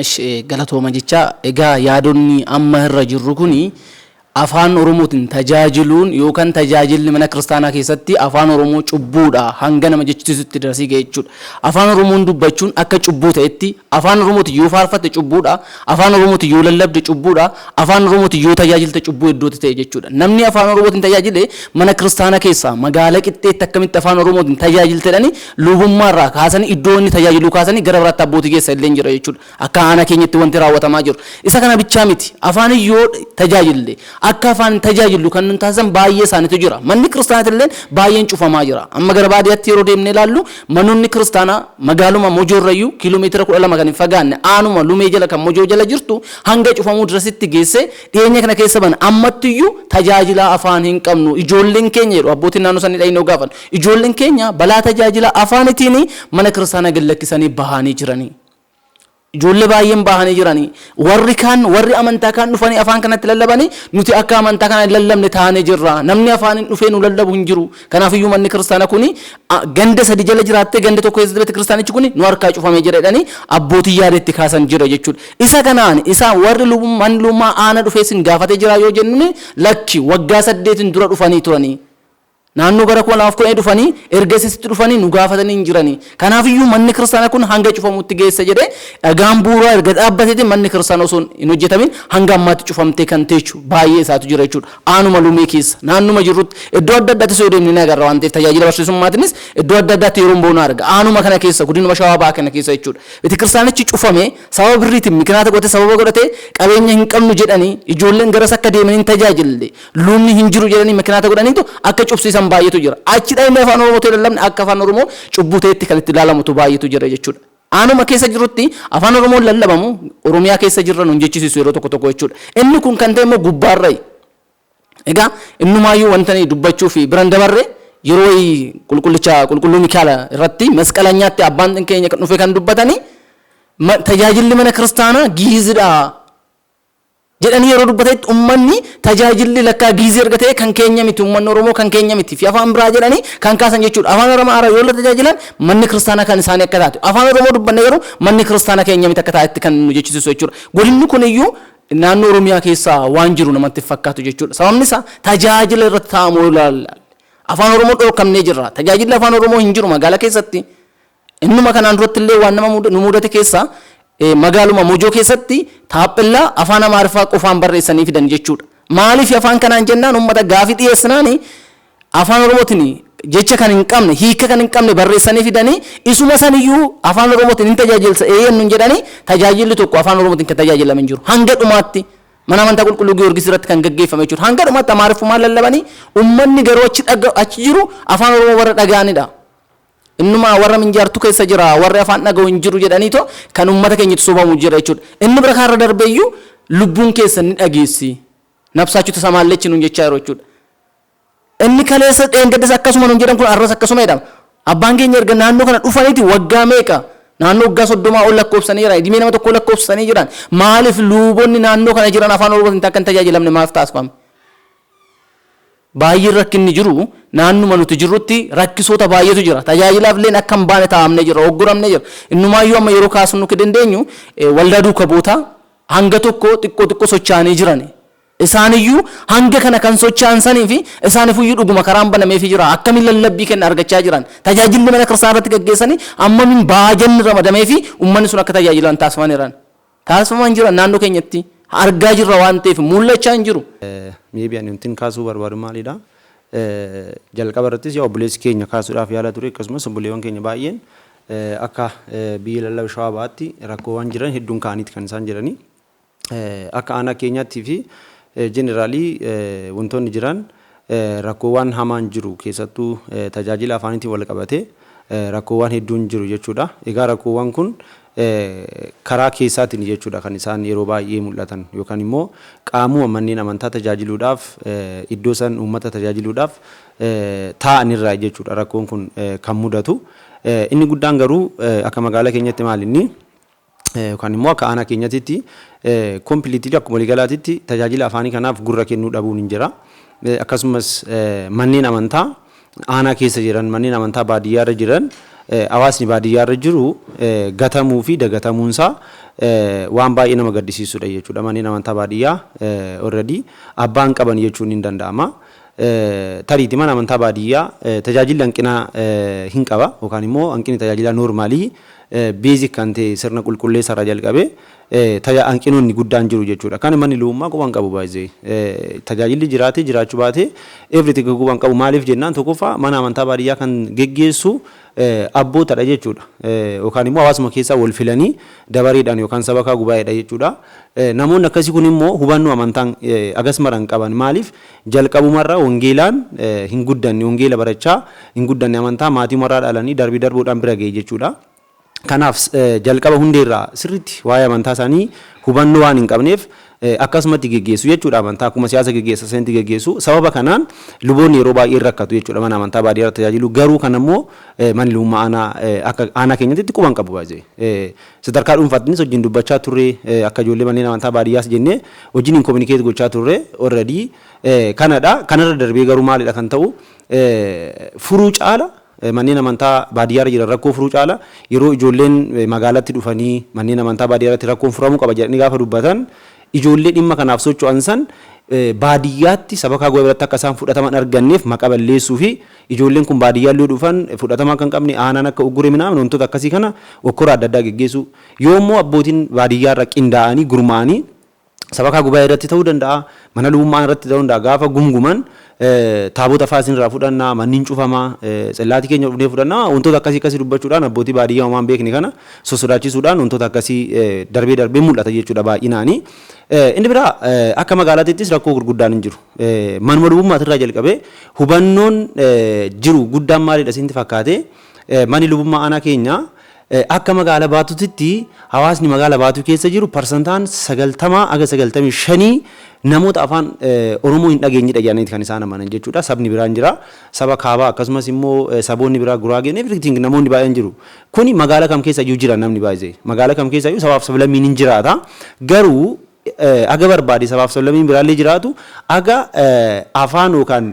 [SPEAKER 3] Ishi galatooma
[SPEAKER 5] jechaa egaa yaadonni amma irra jirru kun afaan oromootiin tajaajiluun yookan tajaajilli mana kiristaanaa keessatti afaan oromoo cubbuudha hanga nama jechisiisutti darasii ga'e jechuudha. Afaan oromoon dubbachuun akka cubbuu ta'etti afaan oromootiin yoo faarfatte cubbuudha Afaan Oromootiin yoo lallabde cubbuudha, Afaan Oromootiin yoo tajaajilte cubbuu iddootti ta'e jechuudha. Namni Afaan Oromootiin tajaajile mana kiristaanaa keessaa magaala qixxeetti akkamitti Afaan Oromootiin tajaajilte jedhanii luubummaa irraa kaasanii iddoo inni tajaajiluu kaasanii gara biraatti abbootii geessa illee jira jechuudha. Akka aanaa keenyatti wanti raawwatamaa jiru. Isa kana bichaa miti. Afaanin yoo tajaajille Akka hafaan hin tajaajillu kan nun taasisan baay'ee isaaniitu jira. Manni kiristaanaati illeen baay'een cufamaa jira. Amma gara baadiyatti yeroo deemnee ilaallu manoonni kiristaanaa magaaluma Mojoo irrayyuu kiilomeetira 12 kan hin fagaanne aanuma Lumee jala kan Mojoo jala jirtu hanga cufamuu dirasitti geessee dhiyeenya kana keessa bana ammattiyyuu tajaajilaa afaan hin qabnu ijoolleen keenya jedhu abbootiin naannoo sanii dhayinoo gaafan ijoolleen keenya balaa tajaajila afaanitiini mana kiristaanaa gad lakkisanii bahaanii jiranii. Ijoollee baay'een bahanii jiranii. Warri kaan, warri amantaa kaan dhufanii afaan kanatti lallabanii, nuti akka amantaa kanaan hin lallabne taanee jirra. Namni afaaniin dhufee nu lallabu hin jiru. Kanaaf iyyuu manni kiristaana kuni a, ganda sadi jala jiraattee ganda tokko keessatti beeti kiristaanichi kuni nu harkaa cufamee jira jedhanii abbootiin yaada itti kaasan jira jechuudha. Isa kanaan isa warri lubum, manni lubummaa aana dhufee isin gaafatee jira yoo jennuni lakki waggaa saddeetiin dura dhufanii turanii. Naannoo bara 2010 dhufanii erga isisitti dhufanii nu gaafatanii hin jiranii. Kanaaf iyyuu manni kiristaanaa kun hanga cufamutti geessa jedhee dhagaan bu'uuraa erga dhaabbateeti manni kiristaanaa osoo hin hojjetamin hanga ammaatti cufamtee kan teechu baay'ee isaatu jira jechuudha. Aanuma Lumee keessa naannuma jirrutti iddoo adda addaattis yoo deemne ni agarra waan ta'eef tajaajila barsiisummaatinis iddoo adda addaatti yeroon ba'u nan arga. Aanuma kana keessa godinuma Shawaa Bahaa kana keessa jechuudha. Betekiristaanichi cufamee sababa birriitiin mikinaata godhatee sababa godhatee qabeenya hin qabnu jedhanii ijoolleen garas akka deemanii hin tajaajille Luubni hin jiru jedhanii mikinaata godhaniitu akka cubsiisan baay'eetu jira. Achi dhaqnee afaan Oromoo ta'e lallabne akka afaan Oromoo cubbuu ta'etti kan itti ilaalamutu baay'eetu jira jechuudha. Aanuma keessa jirutti afaan Oromoon lallabamu Oromiyaa keessa jirra nun jechisiisu yeroo tokko tokko jechuudha. Inni kun kan ta'e immoo gubbaarrayi. Egaa innumaayyuu wantani dubbachuu fi biran dabarre yeroo wayii qulqullicha qulqulluu Mikaala irratti masqalanyaatti abbaan keenya kan dhufe kan dubbatanii tajaajilli mana kiristaanaa giizidha jedhanii yeroo dubbatanitti ummanni tajaajilli lakkaa giizii erga ta'ee kan keenya miti ummanni Oromoo kan keenya miti fi afaan biraa jedhanii kan kaasan jechuudha. Afaan Aramaaraa yoo tajaajilan manni kiristaanaa kan isaanii akka taate afaan Oromoo dubbanne garuu manni kiristaanaa keenya miti akka taatetti kan nu jechisiisu jechuudha. Godinni kuniyyuu naannoo Oromiyaa keessa waan jiru namatti fakkaatu jechuudha. Sababni isaa tajaajila irratti taa'amu yoo ilaalle afaan Oromoo dhorkamnee jirra. Tajaajilli afaan Oromoo hin jiru magaalaa keessatti. Innuma kanaan durattillee waan nama nu muudate keessaa magaaluma Mojoo keessatti taaphellaa afaan Amaariffaa qofaan barreessanii fidan jechuudha. Maaliif afaan kanaan jennaan uummata gaafii dhiyeessinaan afaan Oromootiin jecha kan hin qabne hiika kan hin qabne barreessanii fidanii isuma saniyyuu afaan Oromootiin hin tajaajilsa eeyyeen nun jedhanii tajaajilli tokko afaan Oromootiin kan tajaajilame hin jiru. Hanga dhumaatti mana amantaa qulqulluu Giyoorgis irratti kan gaggeeffame jechuudha. Hanga dhumaatti Amaariffumaan lallabanii uummanni garuu achi jiru afaan Oromoo warra dhaga'anidha. Innumaa warra minjaartu keessa jira, warri afaan dhaga'u hin jiru jedhaniitoo kan uummata keenya itti sobamu jira jechuudha. Inni bira kaarra darbeeyyuu lubbuun keessan ni dhageessi. Nabsaachu tasamaallechi nuun jechaa jiru jechuudha. Inni kaleessa dheengaddas akkasuma nuun jedhan kun arras akkasuma jedhama. Abbaan keenya erga naannoo kana dhufaniiti waggaa meeqa? Naannoo waggaa soddomaa ol lakkoofsanii jiran, idimee nama tokkoo lakkoofsanii jiran. Maaliif luubonni naannoo kana jiran afaan Oromootiin akka hin tajaajilamne maaf taasifame? Baay'een rakkinni jiru naannuma nuti jirrutti rakkisoota baay'eetu jira. Tajaajilaaf illeen akka hin baane taa'amnee jirra, ogguramnee jirra. Innumaayyuu amma yeroo kaasnu ka dandeenyu waldaa duuka bu'ootaa hanga tokko xiqqoo xiqqoo sochaa'anii jirani. Isaaniyyuu hanga kana kan sochaa'an saniifi isaanifuyyuu dhuguma karaan banameefii jira. Akkamiin lallabbii kenna argachaa jiran? Tajaajilli mana kiristaanaa irratti gaggeessanii ammamiin baajanni ramadameefii ummanni sun akka tajaajilan taasifaniran? Taasifamaa hin jiran naannoo keenyatti argaa jirra waan ta'eef muul'achaa hin jiru. Maybe ani wantin
[SPEAKER 1] kaasuu barbaadu maalidha? Jalqaba irrattis yaa obboleessi keenya kaasuudhaaf yaala ture akkasumas obboleewwan keenya baay'een akka biyya lallaba shawaa ba'aatti rakkoowwan jiran hedduun ka'aniiti kan isaan jedhanii akka aanaa keenyaattii fi jeneraalii wantoonni jiran rakkoowwaan hamaan jiru keessattuu tajaajila afaaniitiin walqabatee rakkoowwaan hedduun jiru jechuudha. Egaa rakkoowwaan kun karaa keessaatiini jechuudha kan isaan yeroo baay'ee mul'atan yookaan immoo qaamuma manneen amantaa tajaajiluudhaaf iddoo san uummata tajaajiluudhaaf taa'an irraayi jechuudha rakkoon kun kan mudatu. Inni guddaan garuu akka magaala keenyatti maalinni Yookaan immoo akka aanaa keenyatitti completely akkuma waliigalaatitti tajaajila afaanii kanaaf gurra kennuu dhabuun hin jira. Akkasumas manneen amantaa aanaa keessa jiran, manneen amantaa baadiyyaa irra jiran, hawaasni baadiyyaa irra jiru gatamuu fi dagatamuun isaa waan baay'ee nama gaddisiisudha jechuudha. Manneen amantaa baadiyyaa already abbaa hin qaban jechuun ni danda'ama. Tariiti mana amantaa baadiyyaa tajaajilli hanqina hin qaba yookaan immoo hanqinni tajaajilaa noormaalii beezik kan ta'e sirna qulqulleessa irraa jalqabee taja hanqinoonni guddaan jiru jechuudha. Kana manni lubummaa quba hin qabu by the way. Tajaajilli jiraatee jiraachuu baatee everything quba hin qabu maaliif jennaan tokkoffaa mana amantaa baadiyyaa kan geggeessu abbootadha jechuudha. Yookaan immoo hawaasuma keessaa wal filanii dabareedhaan yookaan sabakaa gubaayeedha jechuudha. Namoonni akkasii kun immoo hubannoo amantaan agas mara hin qaban maaliif Jalqabumarra wangeelaan hin guddanne, wangeela barachaa hin guddanne, amantaa maatiumarraa dhalanii darbii darbuudhaan bira ga'e jechuudha. Kanaaf jalqaba hundeerraa sirriitti waa'ee amantaa isaanii hubannoo waan hin qabneef akkasumatti geggeessu jechuudha amantaa akkuma siyaasa geggeessan sanitti geggeessu. Sababa kanaan luboonni yeroo baay'ee hin rakkatu jechuudha mana amantaa baadiyyaarra tajaajilu garuu kanammoo manni lubummaa aanaa akka aanaa keenyatti quba hin qabu by the way. Sadarkaa dhuunfaattinis wajjin dubbachaa turre akka ijoollee manneen amantaa baadiyyaas jennee wajjiniin communicate gochaa turre already kanadha. Kanarra darbee garuu maalidha kan ta'u furuu caala manneen amantaa baadiyyaarra jiran rakkoo furuu caala yeroo ijoolleen magaalatti dhufanii manneen amantaa baadiyyaarratti rakkoon furamuu qaba jedhanii gaafa dubbatan ijoollee dhimma kanaaf socho'an san baadiyyaatti sabakaa gubaa'ee biratti akka isaan fudhatama hin arganneef maqa balleessuu fi Ijoolleen kun baadiyyaallee yoo dhufan fudhatama akka hin qabne, aanaan akka uggure minaamin wantoota akkasii kana okkora adda addaa geggeessuu. Yoo immoo abbootiin baadiyyaarra qindaa'anii, gurmaa'anii sabakaa gubaa'ee irratti ta'uu danda'a, mana lubummaa irratti ta'uu danda'a gaafa gumguman taabota fa'aa isin irraa fudhanna, manni hin cufama, tsillaatii keenya dhufnee fudhanna wantoota akkasii akkasii dubbachuudhaan abbootii baadiyyaa homaa hin beekne kana sossodaachisuudhaan wantoota akkasii darbee darbee mul'ata jechuudha baay'inaanii. Inni biraa akka magaalaatittis rakkoo gurguddaan hin jiru. Manuma lubummaati irraa jalqabee hubannoon jiru guddaan maalidha isinti fakkaate? Manni lubummaa aanaa keenya akka magaala baatutitti hawaasni magaala baatuu keessa jiru parsantaan 90 haga 95 namoota afaan Oromoo hin dhageenyedha jedhaniiti kan isaan amanan jechuudha. Sabni biraan jira. Saba kaabaa akkasumas immoo saboonni biraa guraageen everything namoonni baay'een jiru. Kuni magaala kam keessa iyyuu jira namni baay'ee. Magaala kam keessa iyyuu sabaaf sablammiin hin jiraata. Garuu Haga barbaade sabaaf sablammiin biraallee jiraatu, haga afaan yookaan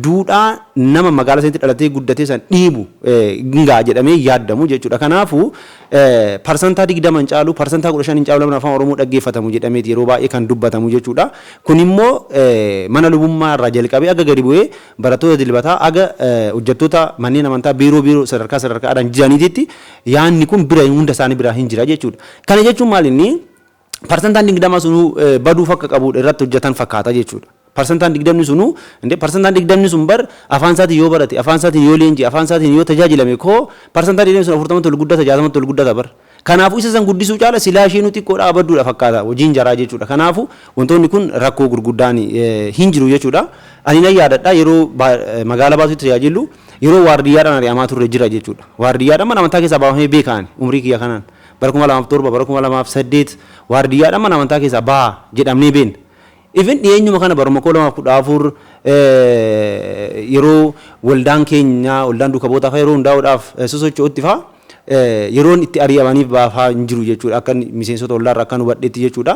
[SPEAKER 1] duudhaa nama magaala sanitti dhalatee guddatee san dhiibu hin ga'a jedhamee hin yaaddamu jechuudha. Kanaafuu, parsantaa 20 hin caalu, parsantaa 15 hin caalu namni afaan Oromoo dhaggeeffatamu jedhameeti yeroo baay'ee kan dubbatamu jechuudha. Kunimmoo mana lubummaa irraa jalqabee haga gadi bu'ee barattoota dilbataa haga hojjattoota manneen amantaa biiroo biiroo sadarkaa sadarkaadhaan jiraniititti yaanni kun bira hunda isaanii biraa hin jira jechuudha. Kana jechuun maalinni? Parsantaan 20 sunuu baduuf akka qabuudha irratti hojjatan fakkaata jechuudha. Parsantaan 20 sunuu indee parsantaan 20 sun bar afaan isaatiin yoo barate afaan isaatiin yoo leenji'e afaan isaatiin yoo tajaajilame koo parsantaan 20 sun 40 tol guddata 60 tol guddata bar. Kanaafuu isa san guddisuu caala silaa isheenuu xiqqoodha abadduudha fakkaata hojiin jaraa jechuudha. Kanaafuu wantoonni kun rakkoo gurguddaan hin jiru jechuudha. Ani nan yaadadha yeroo magaala baatutti tajaajillu yeroo waardiyyaadhaan ari'amaa turre jira jechuudha. Waardiyyaadhaan mana amantaa keessaa baafamee beeka ani umrii kiyya kanaan. Bara 2007, bara 2008 waardiyyaadhaan mana amantaa keessaa bahaa jedhamnee beekna. Even dhiyeenyuma kana baruma 2014 yeroo waldaan keenya, waldaan duuka bu'ootaa fa'aa yeroo hundaa'uudhaaf sosocho'utti fa'aa yeroon itti ari'amaniif bahaa fa'aa hin jiru jechuudha. Akkan miseensota waldaa irraa akkan hubadhetti jechuudha.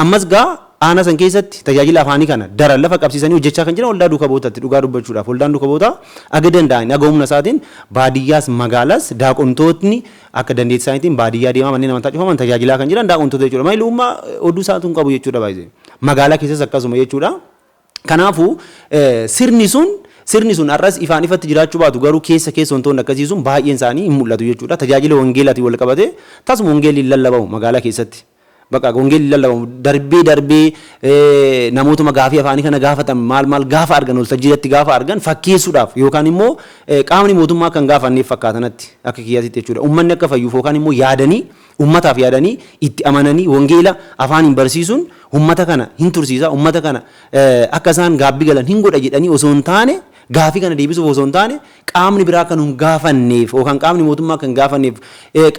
[SPEAKER 1] Ammas gaa aanaa san keessatti tajaajila afaanii kana daran lafa qabsiisanii hojjechaa kan jiran waldaa duuka bu'ootatti dhugaa dubbachuudhaaf. Waldaan duuka bu'ootaa aga danda'aniin, aga humna isaatiin baadiyyaas magaalaas daaqontootni Akka dandeetti isaaniitiin baadiyyaa deemaa manneen amantaa cufaman tajaajilaa kan jiran daa'untota jechuudha. Maali umma oduu isaatu hin qabu jechuudha baay'ee. Magaalaa keessas akkasuma jechuudha. Kanaafuu sirni sun sirni sun har'as ifaan ifatti jiraachuu baatu garuu keessa keessa wantoonni akkasii sun baay'een isaanii hin mul'atu jechuudha. Tajaajila wangeelaatiin wal qabatee tasuma wangeelli hin lallabamu magaalaa keessatti. Baqaa wangeelli lallabamu darbee darbee namootuma gaafii afaanii kana gaafatan maal maal gaafa argan waltajjii irratti gaafa argan fakkeessuudhaaf yookaan immoo qaamni mootummaa akka hin gaafanneef fakkaata natti akka kiyyaatitti jechuudha. Uummanni akka fayyuuf yookaan immoo yaadanii uummataaf yaadanii itti amananii wangeela afaaniin barsiisuun uummata kana hin tursiisa uummata kana akka isaan gaabbi galan hin godha jedhanii osoo hin taane gaafii kana deebisuuf osoo hin taane qaamni biraa akka nu hin gaafanneef yookaan qaamni mootummaa akka hin gaafanneef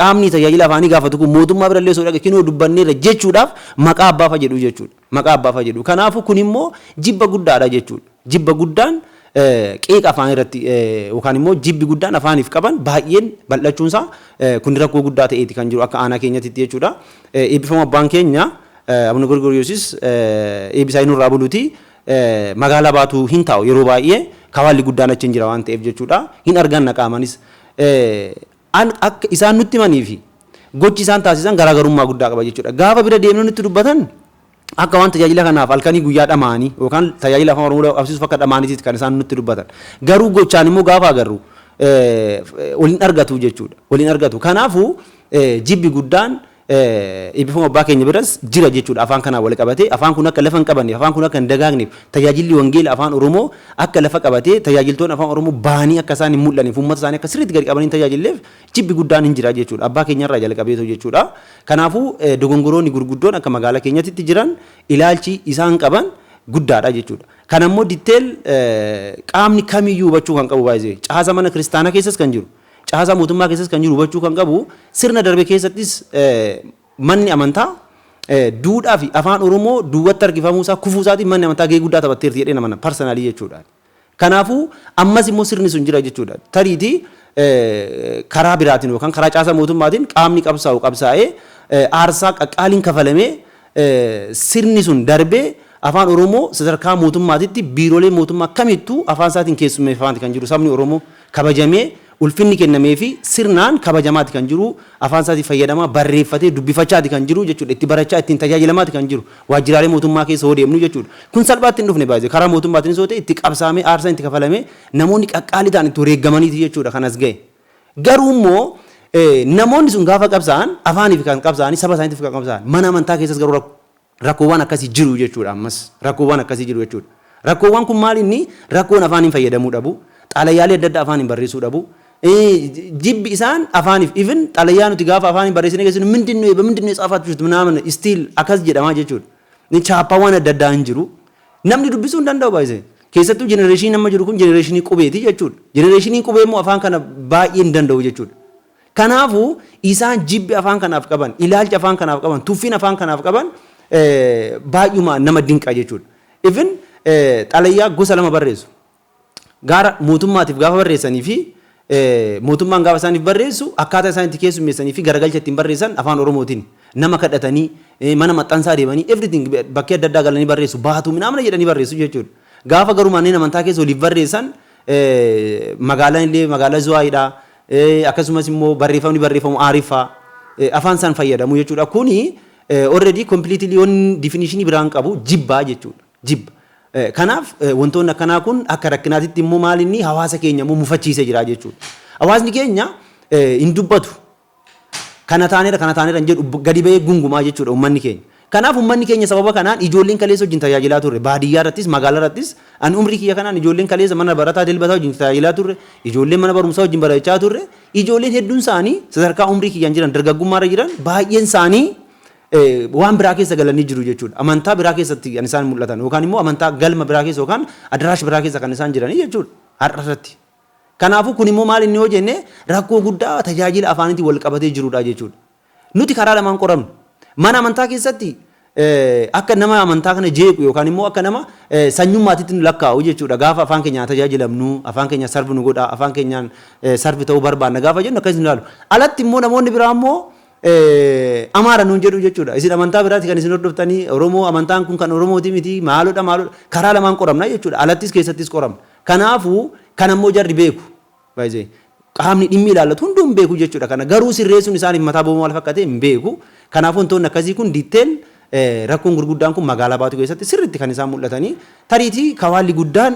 [SPEAKER 1] qaamni tajaajila afaanii gaafatu kun mootummaa birallee osoo dhaqe kinoo dubbanneerra jechuudhaaf maqaa abbaa fa'a jedhu jechuudha. Maqaa abbaa fa'a jedhu. Kanaafuu kun immoo jibba guddaadha jechuudha. Jibba guddaan qiiqa afaan irratti yookaan immoo jibbi guddaan afaaniif qaban baay'een bal'achuun isaa kun rakkoo guddaa ta'eeti kan jiru akka aanaa keenyatti jechuudha. Eebbifama abbaan keenya Abuna Gorgoriyoosis eebbisaa inni irraa buluti. Magaalaa Baatuu hin taa'u yeroo baay'ee kawaalli guddaan achi hin jira waan ta'eef jechuudha. Hin arganna qaamanis. An akka isaan nutti himanii fi gochi isaan taasisan garaagarummaa guddaa qaba jechuudha. Gaafa bira deemnee nutti dubbatan akka waan tajaajila kanaaf halkanii guyyaa dhamaanii yookaan tajaajila afaan Oromoo qabsiisuuf akka dhamaaniitiiti kan isaan nutti dubbatan. Garuu gochaan immoo gaafa agarru waliin argatu jechuudha. Waliin argatu. Kanaafuu jibbi guddaan Eebbifama Abbaa keenya biras jira jechuudha afaan kanaan wal qabatee. Afaan kun akka lafa hin qabanneef, afaan kun akka hin dagaagneef, tajaajilli wangeela Afaan Oromoo akka lafa qabatee tajaajiltoonni Afaan Oromoo bahanii akka isaan hin mul'anneef, uummata isaanii akka sirriitti gadi qabanii hin tajaajilleef jibbi guddaan hin jira jechuudha. Abbaa keenya irraa jalqabeetoo jechuudha. Kanaafuu dogongoroonni gurguddoon akka magaalaa keenyatitti jiran ilaalchi isaan qaban guddaadha jechuudha. Kana immoo detail qaamni kamiyyuu hubachuu kan qabu by the way. Caasa mana kiristaanaa keessas kan jiru. Caasaa mootummaa keessas kan jiru hubachuu kan qabu sirna darbe keessattis manni amantaa duudhaa fi afaan Oromoo duubatti harkifamuu isaa kufuu isaatiin manni amantaa gahee guddaa taphatteerti jedhee namana parsanaalii jechuudha. Kanaafuu ammas immoo sirni sun jira jechuudha. Tariitii karaa biraatiin yookaan karaa caasaa mootummaatiin qaamni qabsaa'u qabsaa'ee aarsaa qaqqaaliin kafalamee sirni sun darbee Afaan Oromoo sadarkaa mootummaatitti biiroolee mootummaa kamittuu afaan isaatiin keessummeeffamaati kan jiru sabni Oromoo. Kabajamee ulfinni kennameefii sirnaan kabajamaati kan jiru, afaan isaatiin fayyadamaa, barreeffatee dubbifachaati kan jiru jechuudha. Itti barachaa, ittiin tajaajilamaati kan jiru. Waajjiraalee mootummaa keessa yoo deemnu jechuudha. Kun salphaatti hin dhufne by the way. Karaa mootummaatiinis yoo ta'e itti qabsaa'amee, aarsaan itti kafalamee, namoonni qaqqaalii ta'an itti wareeggamaniiti jechuudha kan as ga'e. Garuu immoo namoonni sun gaafa qabsaa'an afaaniif kan qabsaa'anii saba isaaniitiif kan qabsaa'an mana amantaa keessas garuu rakko rakkoowwan akkasii jiru jechuudha ammas rakkoowwan akkasii jiru jechuudha. Rakkoowwan kun maali inni rakkoon afaaniin fayyadamuu dhabu xalayaalee adda addaa afaaniin barreessuu dhabu jibbi isaan afaaniif even xalayaa nuti gaafa afaaniin barreessinee keessinu mindinnu eeba mindinnu eessa afaatti jirtu minaaman istiil akkas jedhamaa jechuudha. Chaappaawwan adda addaa hin jiru Namni dubbisuu hin danda'u by the way. Keessattuu jenereeshiniin amma jiru kun jenereeshinii qubeeti jechuudha. Jenereeshiniin qubee immoo afaan kana baay'ee hin danda'u jechuudha. Kanaafuu isaan jibbi afaan kanaaf qaban, ilaalchi afaan kanaaf qaban, tuffiin afaan kanaaf qaban baay'umaan nama dinqa jechuudha. Even xalayaa gosa lama barreessu. gaara mootummaatiif gaafa barreessanii fi mootummaan gaafa isaaniif barreessu akkaataa isaan itti keessummeessanii fi garagalcha ittiin barreessan afaan Oromootiin nama kadhatanii mana maxxansaa deemanii everything bakkee adda addaa galanii barreessu baatu minaamna jedhanii barreessu jechuudha. Gaafa garuu manneen amantaa keessa waliif barreessan magaalaan illee magaalaa Zuwaayidha akkasumas immoo barreeffamni barreeffamu aariffaa afaan isaan fayyadamu jechuudha. Kuni already completely on definition biraan qabu jibbaa jechuudha. jibba. Kanaaf wantoonni akkanaa kun akka rakkinaatitti immoo maalinni hawaasa keenya immoo mufachiisee jira jechuudha. Hawaasni keenya hin dubbatu. Kana taaneera kana taaneera hin jedhu gadi ba'ee gungumaa jechuudha uummanni keenya. Kanaaf uummanni keenya sababa kanaan ijoolleen kaleessa wajjin tajaajilaa turre baadiyyaa irrattis magaalaa irrattis ani umrii kiyya kanaan ijoolleen kaleessa mana barataa dilbataa wajjin tajaajilaa turre ijoolleen mana barumsaa wajjin barachaa turre ijoolleen hedduun isaanii sadarkaa umrii kiyyaan jiran dargaggummaa irra jiran baay'een isaanii waan biraa keessa galanii jiru jechuudha. Amantaa biraa keessatti kan isaan mul'atan yookaan immoo amantaa galma biraa keessa yookaan adaraash biraa keessa kan isaan jiranii jechuudha har'a irratti. Kanaafuu kun immoo maal inni yoo jenne rakkoo guddaa tajaajila afaaniitiin wal qabatee jirudha jechuudha. Nuti karaa lamaan qoramnu. Mana amantaa keessatti akka nama amantaa kana jeequ yookaan immoo akka nama sanyummaatitti nu lakkaa'u jechuudha. Gaafa afaan keenyaan tajaajilamnu, afaan keenya sarvi nu godha, afaan keenyaan sarvi ta'uu barbaanna gaafa jennu akkas nu ilaalu. Alatti immoo namoonni biraa immoo Amaara nuun jedhuu jechuudha. Isin amantaa biraati kan isin hordoftanii Oromoo amantaan kun kan Oromooti miti maalodha maalodha karaa lamaan qoramna jechuudha. Alattis keessattis qoramna. Kanaafuu kana immoo jarri beeku. By the way, qaamni dhimmi ilaallatu hunduu hin beeku jechuudha. Kana garuu sirreessuun isaaniif mataa bobaa maal fakkate hin beeku. Kanaafuu wantoonni akkasii kun detail rakkoon gurguddaan kun magaalaa baatu keessatti sirriitti kan isaan mul'atanii tariitii kawaalli guddaan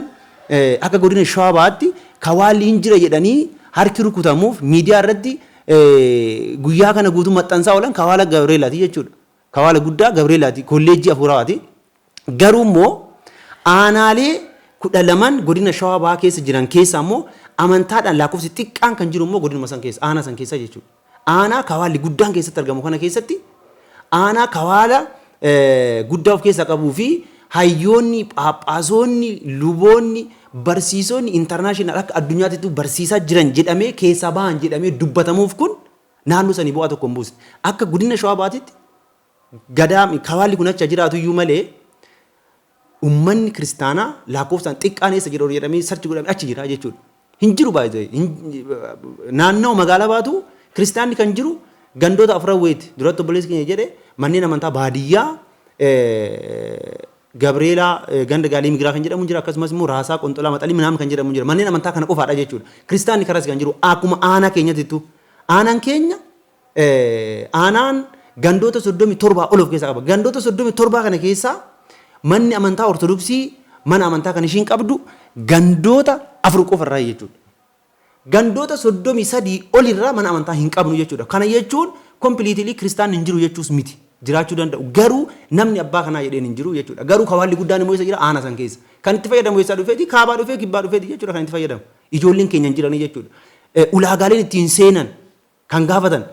[SPEAKER 1] akka godina Shawaa baatti kawaalli hin jira jedhanii harki rukutamuuf miidiyaa irratti guyyaa kana guutuu maxxansaa oolan kawaala Gabreelaati jechuudha. Kawaala guddaa Gabreelaati kolleejjii afuurawaati. Garuu immoo aanaalee kudha laman godina shawaa bahaa keessa jiran keessaa immoo amantaadhaan lakkoofsi xiqqaan kan jiru immoo godinuma san keessa aanaa san keessa jechuudha. Aanaa kawaalli guddaan keessatti argamu kana keessatti Aanaa kawaala guddaa of keessaa qabuu fi hayyoonni, phaaphaasoonni, luboonni, barsiisonni international akka addunyaatittuu barsiisaa jiran jedhamee keessaa bahan jedhamee dubbatamuuf kun naannoo sanii bu'aa tokko hin buusne. Akka godina Shawaa Bahaatitti gadaa kawaalli kun achi haa jiraatuyyuu malee Ummanni kiristaanaa laakkoofsaan xiqqaan eessa jira jedhamee search godhame achi jira jechuudha. Hin jiru by the way. Naannawa magaalaa baatu kiristaanni kan jiru gandoota afran wayiiti. Duratti obboleessi keenya jedhe manneen amantaa baadiyyaa Gabreelaa ganda gaalii migiraa kan jedhamu jira akkasumas immoo raasaa qonxolaa maxalii minaam kan jedhamu jira manneen amantaa kana qofaadha jechuudha. Kiristaanni kanas kan jiru akkuma aanaa keenyatittu aanaan keenya Aanaan gandoota 37 ol of keessaa qaba. Gandoota 37 kana keessaa manni amantaa Ortodoksii mana amantaa kan ishiin qabdu gandoota afur qofa irraa jechuudha. Gandoota 33 ol irraa mana amantaa hin qabnu jechuudha. Kana jechuun kompiliitilii kiristaanni hin jiru jechuus miti. Jiraachuu danda'u. Garuu namni abbaa kanaa jedheen hin jiru jechuudha. Garuu kawaalli guddaan immoo isa jira aana san keessa. Kan itti fayyadamu eessaa dhufeeti? Kaabaa dhufee kibbaa dhufeeti jechuudha kan itti fayyadamu. Ijoolleen keenya hin jiranii jechuudha. Ulaagaaleen ittiin seenan kan gaafatan.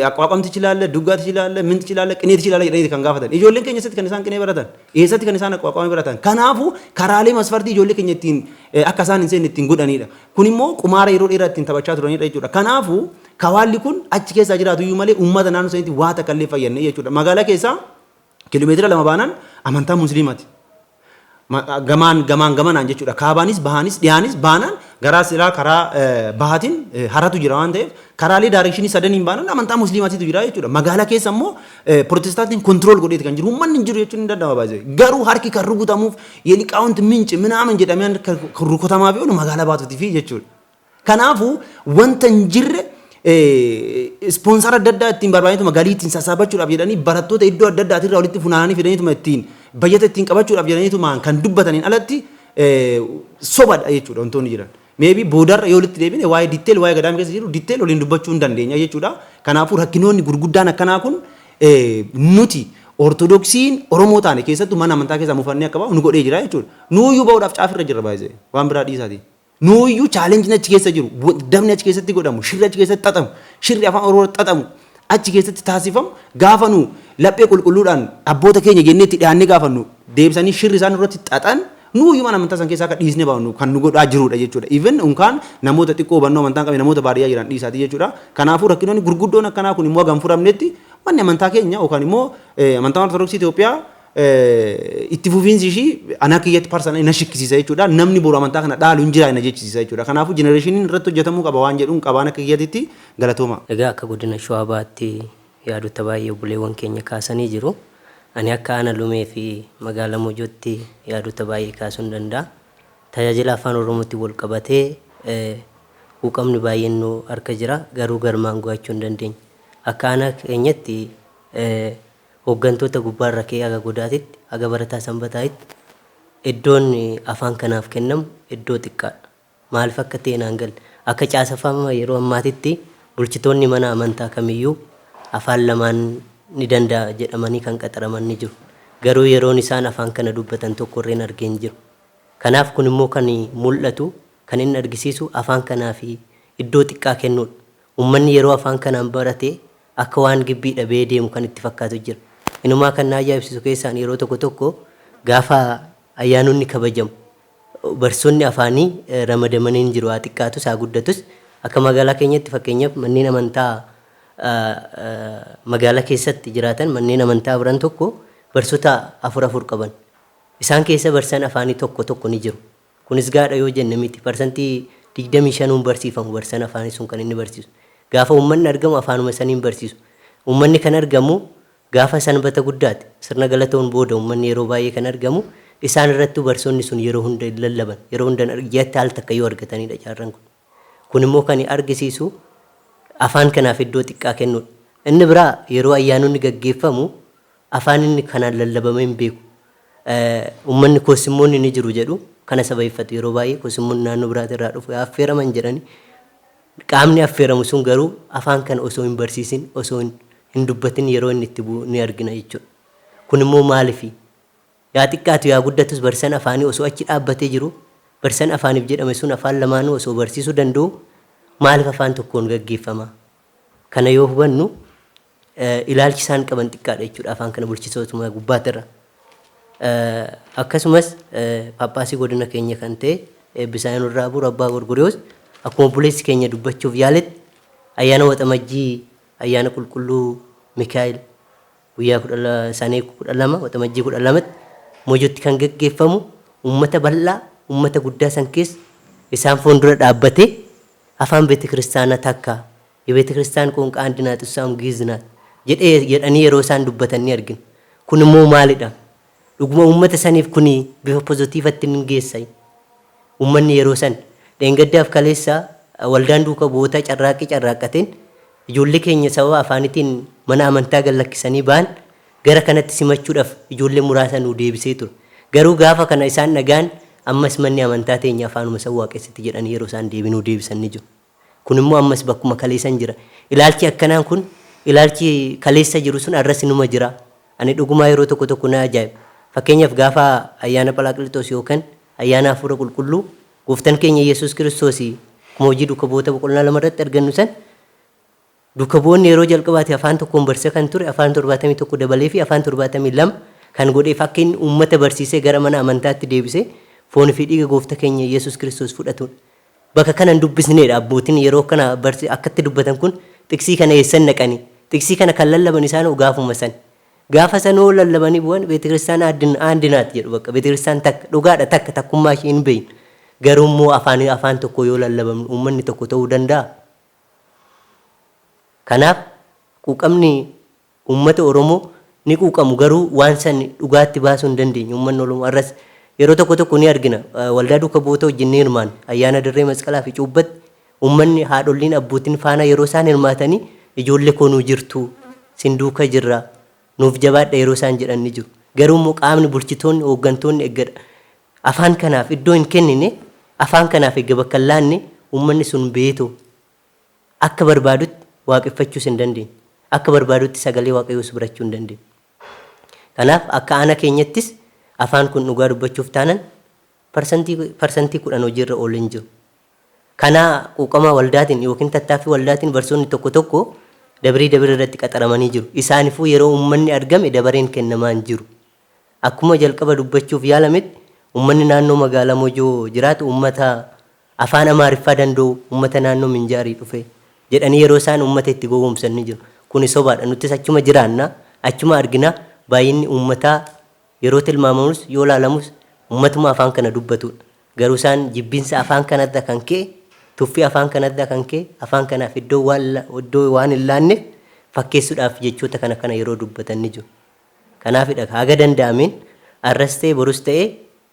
[SPEAKER 1] Aqwaaqamtichi ilaalla, duggaatichi ilaalla, mintichi ilaalla, qineetichi ilaalla jedhanii kan gaafatan. Ijoolleen keenya eessatti kan isaan qinee baratan? Eessatti kan isaan aqwaaqama baratan? Kanaafuu karaalee masfartii ijoollee keenya ittiin akka isaan hin seenne ittiin godhanidha. Kun immoo qumaara yeroo dheeraa ittiin taphachaa turanidha jechuudha. Kanaafuu kawaalli kun achi keessaa jiraatu iyyuu malee uummata naannoo sanitti waa takka illee fayyadne jechuudha. Magaalaa keessaa Kilomeetira lama baanaan amantaa Musliimaati. Ma, gamaan, gamaan gamanaan jechuudha. Kaabaanis, bahaanis, dhiyaanis baanaan garaa silaa karaa eh, bahaatiin eh, haratu jira waan ta'eef karaalee daarekshinii sadaniin baanaan amantaa Musliimaatiitu jira jechuudha. Magaala keessa immoo eh, Pirotestaantiin kontirool godheeti kan jiru. Uummanni hin jiru jechuun hin danda'ama baay'ee. Garuu harki kan rukutamuuf yeliqaawunti minci minaaman jedhamee kan rukutamaa fi oolu magaalaa baatuutii fi jechuudha. Kanaafuu wanta hin jirre ispoonsara adda addaa ittiin barbaadaniituma galii ittiin sassaabachuudhaaf jedhanii barattoota iddoo adda addaatii irraa walitti funaananii fidaniituma ittiin bayyata ittiin qabachuudhaaf jedhaniitumaan kan dubbataniin alatti sobadha jechuudha wantoonni jiran. Meebii boodarra yoo walitti deebine waa'ee ditteel waa'ee gadaam keessa jiru ditteel waliin dubbachuu hin dandeenya jechuudha. Kanaafuu rakkinoonni gurguddaan akkanaa kun nuti Ortodoksiin Oromoo taane keessattuu mana amantaa keessaa mufannee akka bahu nu godhee jira jechuudha. Nuuyyuu bahuudhaaf caafirra jirra baay'ee waan biraa dhiisaatii. Nuuyyuu chaalenjiin achi keessa jiru, dabni achi keessatti godhamu, shirri achi keessatti xaxamu, shirri afaan Oromoo xaxamu achi keessatti taasifamu gaafa nu laphee qulqulluudhaan abboota keenya jennee itti dhiyaannee gaafannu deebisanii shirri isaan irratti xaxan nuuyyuu mana amantaa san keessaa akka dhiisne baanu kan nu godhaa jirudha jechuudha. Even unkaan namoota xiqqoo hubannoo amantaa hin qabne namoota baadiyyaa jiran dhiisaati jechuudha. Kanaafuu rakkinoonni gurguddoon akkanaa kun immoo haga hin furamnetti manni amantaa keenya yookaan immoo amantaa Ortodoksii Itoophiyaa itti fufiinsi ishii anaa kiyyatti parsanalii na shikkisiisa jechuudha. Namni boru amantaa kana dhaalu hin jiraa na jechisiisa jechuudha. Kanaafuu jenereeshiniin irratti hojjetamuu qaba waan jedhuun qabaan akka kiyyatitti galatooma. Egaa
[SPEAKER 2] akka godina Shawaa Bahaatti yaadota baay'ee obboleewwan keenya kaasanii jiru. Ani akka Aana Lumee fi Magaala Mojootti yaadota baay'ee kaasuun danda'a. Tajaajila Afaan Oromootti wal qabatee quuqamni baay'een nu harka jira. Garuu galmaan go'achuu hin dandeenye. Akka Aanaa keenyatti hooggantoota gubbaa irra ka'ee haga godaatitti, haga barataa sanbataa'itti eddoon afaan kanaaf kennamu eddoo xiqqaadha. Maalif akka ta'e naan galle. Akka caasafama yeroo ammaatitti bulchitoonni mana amantaa kamiyyuu afaan lamaan ni danda'a jedhamanii kan qaxaraman ni jiru. Garuu yeroon isaan afaan kana dubbatan tokko irreen arge hin jiru. Kanaaf kun immoo kan mul'atu, kan inni argisiisu afaan kanaaf iddoo xiqqaa kennuudha. Ummanni yeroo afaan kanaan barate Akka waan gibbii dhabee deemu kan itti fakkaatu jira. Inumaa kan na ajaa'ibsiisu keessaan yeroo tokko tokko gaafa ayyaanonni kabajamu barsiisonni afaanii ramadamanii hin jiru haa xiqqaatus haa guddatus akka magaalaa keenyatti fakkeenyaaf manneen amantaa magaalaa keessatti jiraatan manneen amantaa Abran tokko barsiisota afur afur qaban. Isaan keessa barsiisaan afaanii tokko tokko ni jiru. Kunis gaadha yoo jenne miti. Parsantii 25n barsiifamu barsiisan afaanii sun kan inni barsiisu. Gaafa uummanni argamu afaanuma saniin barsiisu. Uummanni kan argamu gaafa Sanbata Guddaati. Sirna Galatoon booda uummanni yeroo baay'ee kan argamu. Isaan irrattuu barsiisonni sun yeroo hunda hin lallaban. Yeroo hunda hin argamu. Ji'atti al takka yoo argataniidha caarran kun. Kun immoo kani argisiisu afaan kanaaf iddoo xiqqaa kennuudha. Inni biraa yeroo ayyaanonni gaggeeffamu afaan inni kanaan lallabamee hin beeku. Ummanni Koosimmoonni ni jiru jedhu kana sababeeffatu yeroo baay'ee Koosimmoonni naannoo biraatii irraa dhufu yaa affeeraman jedhani qaamni affeeramu sun garuu afaan kana osoo hin barsiisin osoo hin dubbatin yeroo inni itti bu'u ni argina jechuudha. Kun immoo maalifi? Yaa xiqqaatu yaa guddatus barsisan afaanii osoo achi dhaabbatee jiru, barsisan afaanif jedhame sun afaan lamaanuu osoo barsiisu danda'u maalif afaan tokkoon gaggeeffama? Kana yoo hubannu ilaalchi isaan qaban xiqqaadha jechuudha afaan kana bulchisootuma gubbaatirra. Akkasumas paappaasii godina keenya kan ta'e eebbisaa nurraa buur abbaa gorgoriyoos akkuma obboleessi keenya dubbachuuf yaaletti ayyaana waxamajjii ayyaana qulqulluu mikaa'el Guyyaa 12 Sane 12 Waxamajjii 12tti Mojotti kan gaggeeffamu uummata bal'aa uummata guddaa san keessa isaan fuundura dhaabbatee afaan beetekiristaana takka Yebeetekiristiyaan qoonqaa andi naat ussaa'um giiz naat jedhee jedhanii yeroo isaan dubbatan ni argina. Kun immoo maalidha? Dhuguma uummata saniif kuni bifa pozotiivatti ni geessa. Uummanni yeroo san dheengaddaaf kaleessa waldaan duuka bu'ootaa carraaqqii carraaqqateen ijoollee keenya sababa afaanitiin mana amantaa gad lakkisanii ba'an gara kanatti simachuudhaf ijoollee muraasa nuu deebisee ture. Garuu gaafa kana isaan dhaga'an ammas manni amantaa teenya afaanuma san waaqessiti jedhanii yeroo isaan deebii nuu deebisan ni jiru. Kun immoo ammas bakkuma kaleesan jira. Ilaalchi akkanaan kun ilaalchi kaleessa jiru sun arras inuma jira. Ani dhugumaa yeroo tokko tokko na ajaa'iba. Fakkeenyaaf gaafa ayyaana Phalaaqlixoos yookan ayyaana Hafuura Qulqulluu Gooftan keenya Yesuus Kiristoos akkuma Hojii Duuka Bu'oota boqonnaa 2 irratti argannu san Duuka bu'oonni yeroo jalqabaatiif afaan tokkoon barsiisa kan ture afaan 71 dabaleefii afaan 72 kan godheef akka inni uummata barsiisee gara mana amantaatti deebisee foon fi dhiiga goofta keenya Yesus Kiristoos fudhatuun baka kana hin dubbisneedha abbootin yeroo kana barsi akkatti dubbatan kun xiksii kana eessan naqanii xiksii kana kan lallaban isaanoo gaafuma san gaafa sanoo lallabanii bu'an beetikiristaana addin aandinaat jedhu bakka beetikiristaana takka dhugaadha takka takkummaa ishee hin beeynu garuu immoo afaan afaan tokko yoo lallabamnu uummanni tokko ta'uu danda'a Kanaaf quuqamni uummata Oromoo ni quuqamu garuu waan san dhugaatti baasuu hin dandeenye uummanni Oromoo har'as yeroo tokko tokko ni argina waldaa duuka bu'oota wajjin ni hirmaanna ayyaana dirree masqalaa fi cuubbatti uummanni haadholliin abbootiin faanaa yeroo isaan hirmaatanii ijoollee koo nuu jirtu sin duuka jirra nuuf jabaadha yeroo isaan jedhan ni jiru garuu immoo qaamni bulchitoonni hooggantoonni eggadha Afaan kanaaf iddoo hin kennine, afaan kanaaf egga bakka hin laanne, ummanni sun beeto akka barbaadutti waaqeffachuus hin dandeenye. Akka barbaadutti sagalee Waaqayyoos birachuu hin dandeenye. Kanaaf akka aanaa keenyattis afaan kun dhugaa dubbachuuf taanan parsantii parsantii 10 hojiirra oolee hin jiru. Kanaa quuqamaa waldaatiin yookiin tattaaffii waldaatiin barsoonni tokko tokko dabrii dabir irratti qaxaramanii jiru. Isaanifuu yeroo ummanni argame dabareen kennamaa hin jiru. Akkuma jalqaba dubbachuuf yaalametti ummanni naannoo magaalaa Mojoo jiraatu ummata Afaan Amaariffaa danda'u, ummata naannoo Minjaarii dhufe jedhanii yeroo isaan ummata itti gowwoomsan ni jiru. Kuni sobaadha. Nuttis achuma jiraanna, achuma argina. Baay'inni ummataa yeroo tilmaamamus, yoo ilaalamus ummatuma afaan kana dubbatuudha. Garuu isaan jibbinsa afaan kanarra kan ka'e, tuffii afaan kanarraa kan ka'e afaan kanaaf iddoo waan iddoo waan hin laanneef fakkeessudhaaf jechoota kana kana yeroo dubbatan ni jiru. Kanaafidha ka haga danda'ameen arras ta'e borus ta'e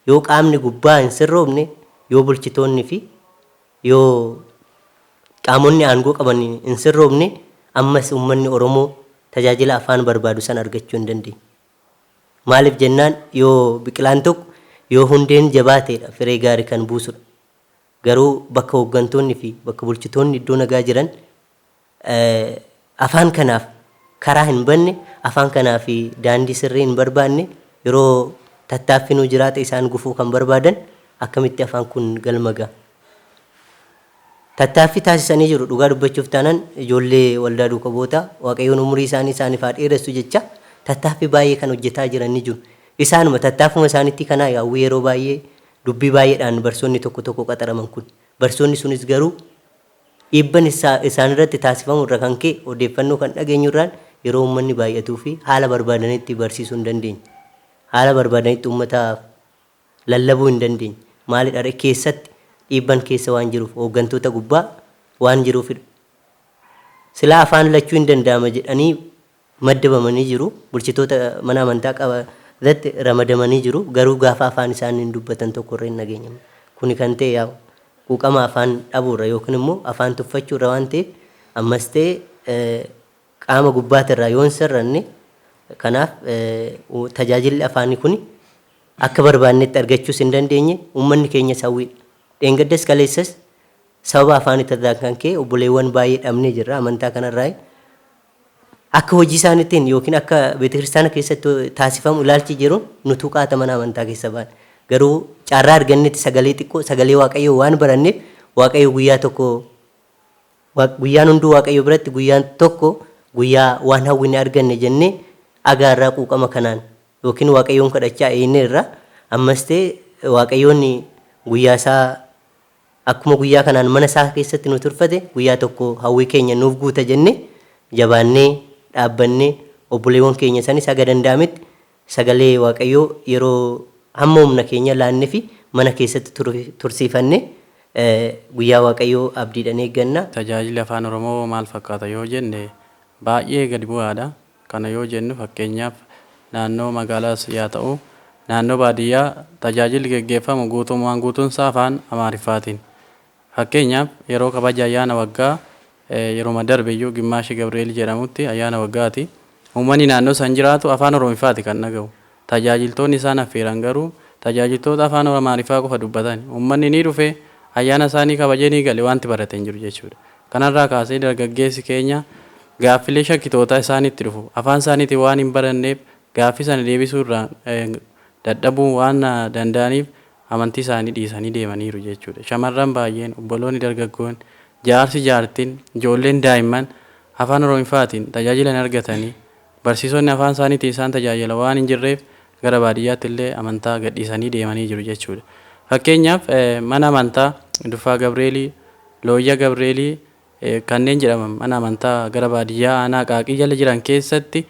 [SPEAKER 2] yoo qaamni gubbaa hin sirroofne, yoo bulchitoonni fi yoo qaamonni aangoo qaban hin sirroofne ammas uummanni Oromoo tajaajila afaan barbaadu san argachuu hin dandeenye. Maaliif jennaan yoo biqilaan tokko yoo hundeen jabaateedha firee gaari kan buusudha. Garuu bakka hooggantoonni fi bakka bulchitoonni iddoo nagaa jiran afaan kanaaf karaa hin banne, afaan kanaaf daandii sirrii hin barbaanne, yeroo tattaaffinuu jiraate isaan gufuu kan barbaadan akkamitti afaan kun galma ga'a? Tattaaffii taasisanii jiru dhugaa dubbachuuf taanan ijoollee waldaa duuka bu'oota Waaqayyoon umurii isaanii isaaniif haa dheeressu jechaa tattaaffii baay'ee kan hojjetaa jiran ni jiru. Isaanuma tattaaffuma isaaniitti kanaa yaa'u yeroo baay'ee dubbii baay'eedhaan barsoonni tokko tokko qaxaraman kun. Barsoonni sunis garuu Dhiibban isaan irratti taasifamu irra kan ka'e odeeffannoo kan dhageenyu irraan yeroo uummanni baay'atuu fi haala barbaadanitti barsiisuu hin dandeenye. Haala barbaadanitti uummataaf lallabuu hin dandeenye. Maalidha ree? Keessatti dhiibban keessa waan jiruuf, hooggantoota gubbaa waan jiruufidha. Silaa afaan lachuu hin danda'ama jedhanii maddabamanii jiru, bulchitoota mana amantaa qaba ratti ramadamanii jiru, garuu gaafa afaan isaaniin dubbatan tokko irra hin dhageenyamne. Kuni kan ta'e yaa quuqama afaan dhabuu irra yookiin immoo afaan tuffachuu irra waan ta'eef ammas ta'e qaama gubbaati irraa yoo hin sirranne kanaaf tajaajilli afaanii kuni akka barbaannetti argachuus hin dandeenye, uummanni keenyas hawwiidha. Dheengaddas kaleessas sababa afaanii irraan kan ka'e obboleewwan baay'ee dhabnee jirra, amantaa kana irraa Akka hojii isaaniitiin yookiin akka beetakiristaana keessatti taasifamu ilaalchi jiru nu tuqaata mana amantaa keessa baane. Garuu carraa argannetti sagalee xiqqoo sagalee waaqayyoo waan baranneef waaqayyo guyyaa tokko guyyaan hunduu waaqayyo biratti guyyaan tokko guyyaa waan hawwine arganne jennee agaa irraa quuqama kanaan yookiin waaqayyoon kadhachaa eeynee irraa ammas ta'e waaqayyoon guyyaa isaa Akkuma guyyaa kanaan mana isaa keessatti nu turfate, guyyaa tokko hawwii keenya nuuf guuta jennee jabaannee dhaabbannee obboleewwan keenya sanis haga danda'ametti sagalee Waaqayyoo yeroo hamma humna keenya laannefi mana keessatti tursiifanne guyyaa Waaqayyoo abdiidhan eegganna. Tajaajilli Afaan Oromoo
[SPEAKER 4] maal fakkaata yoo jenne baay'ee gadi bu'aadha. Kana yoo jennu fakkeenyaaf naannoo magaalaas yaa ta'u naannoo baadiyyaa tajaajilli geggeeffamu guutummaan guutuunsaa afaan Amaariffaatiin. Fakkeenyaaf yeroo kabaja ayyaana waggaa yeruma darbeyyuu Gimmaashe Gabri'eel jedhamutti ayyaana waggaati. Uummanni naannoo san jiraatu afaan Oromiffaati kan dhaga'u. Tajaajiltoonni isaan affeeran garuu tajaajiltoota afaan Amaariffaa qofa dubbatan. Uummanni ni dhufe, ayyaana isaa ni kabajee ni gale, wanti barate hin jiru jechuudha. Kanarraa kaasee dargaggeessi keenya gaaffilee shakkitootaa isaanitti dhufu afaan isaaniitiin waan hin baranneef gaaffii sana deebisuu irraan dadhabuu waan danda'aniif amantii isaanii dhiisanii deemaniiru jechuudha. Shamarran baay'een, obboloonni dargaggoon, jaarsi jaartiin, ijoolleen daa'imman afaan Oromiffaatiin tajaajila hin argatanii Barsiisonni afaan isaaniitiin isaan tajaajila waan hin jirreef gara baadiyyaatti illee amantaa gadhiisanii deemanii jiru jechuudha. Fakkeenyaaf mana amantaa Duffaa Gabreelii, Looyya Gabreelii kanneen jedhaman mana amantaa gara baadiyyaa aanaa Qaaqii jala jiran keessatti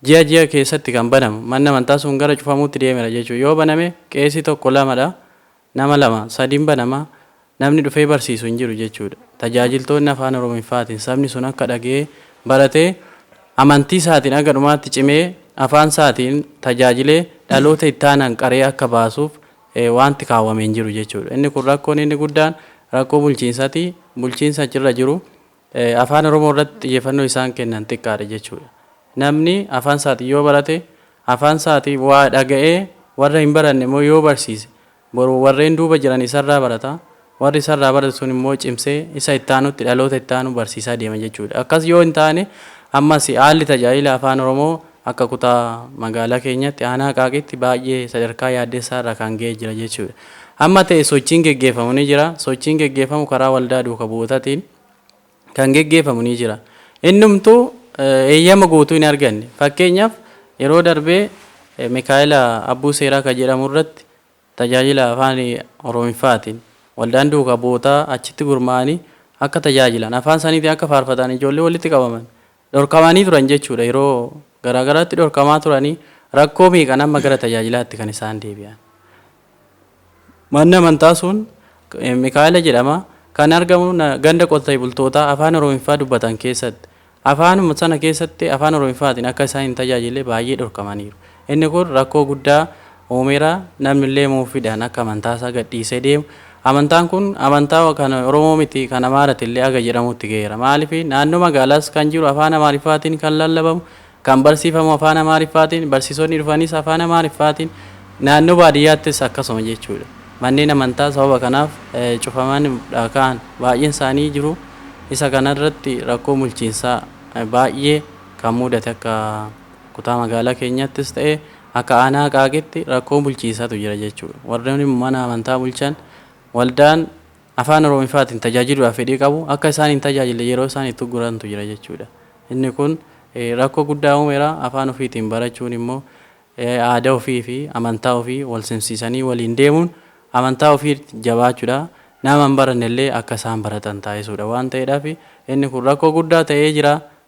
[SPEAKER 4] ji'a ji'a keessatti kan banamu. Manni amantaa sun gara cufamuutti deemera jechuudha. Yoo baname qeesii tokko lamadha. Nama lama, sadiin banama, namni dhufee barsiisu hin jiru jechuudha. Tajaajiltoonni Afaan Oromiffaatiin sabni sun akka dhaga'ee, baratee, amantii isaatiin haga dhumaatti cimee, afaan isaatiin tajaajilee dhaloota itti aanan qaree akka baasuuf waanti kaawwame hin jiru jechuudha. Inni kun rakkoon inni guddaan rakkoo bulchiinsati. Bulchiinsa achirra jiru Afaan Oromoo irratti xiyyeeffannoo isaan kennan xiqqaadha jechuudha. Namni afaan isaatiin yoo barate, afaan isaatii waa dhaga'ee warra hin baranne immoo yoo barsiise, boru warreen duuba jiran isarraa barata. Warri isarraa barate sun immoo cimsee isa itti aanutti, dhaloota itti aanu barsiisaa deema jechuudha. Akkas yoo hin taane ammas haalli tajaajila Afaan Oromoo Akka kutaa magaalaa keenyaatti aanaa Qaaqiitti baay'ee sadarkaa yaaddessaa irra kan ga'e jira jechuudha. Amma ta'e sochiin geggeeffamu ni jira. Sochiin geggeeffamu karaa waldaa duuka bu'ootatiin kan geggeeffamu ni jira. Innumtuu eeyyama guutuu hin arganne. Fakkeenyaaf yeroo darbee Mikaa'ela Abbuu Seeraa kan jedhamu irratti tajaajila afaan Oromiffaatiin waldaan duuka bu'ootaa achitti gurmaa'anii akka tajaajilan afaan isaaniitiin akka faarfatan ijoollee walitti qabaman Dhorkamanii turan jechuudha. Yeroo garaa garaatti dhorkamaa turanii rakkoo meeqan amma gara tajaajilaatti kan isaan deebi'an. Manni amantaa sun Mikaa'ela jedhama. Kan argamu ganda qotee bultootaa afaan Oromiffaa dubbatan keessatti. Afaanuma sana keessatti afaan Oromiffaatiin akka isaan hin tajaajille baay'ee dhorkamaniiru. Inni kun rakkoo guddaa uumeera. Namnillee muuffiidhaan akka amantaasaa gadhiisee deemu, amantaan kun amantaa kan Oromoo miti kan Amaaratillee haga jedhamuutti gaheera. Maaliif naannoo magaalaas kan jiru afaan Amaariffaatiin kan lallabamu, kan barsiifamu afaan Amaariffaatiin, barsiisonni dhufanis afaan Amaariffaatiin, naannoo baadiyyaattis akkasuma jechuudha. Manneen amantaa sababa kanaaf cufaman dha ka'an baay'een isaanii jiru. Isa kanarratti rakkoon bulchiinsaa baay'ee kan muudate akka. Kutaa magaalaa keenyattis ta'e akka aanaa Aqaaqitti rakkoo bulchiinsatu jira jechuudha. Warreen mana amantaa bulchan waldaan Afaan Oromifaatiin tajaajiluudhaaf fedhii qabu akka isaan hin tajaajille yeroo isaan itti uggurantu jira jechuudha. Inni kun rakkoo guddaa uumeera. Afaan ofiitiin barachuun immoo aadaa ofiifi amantaa ofii walsimsiisanii waliin deemuun amantaa ofii jabaachuudha. Nama hin barannellee akka isaan baratan taasisuudha waan ta'eedhaaf inni kun rakkoo guddaa ta'ee jira.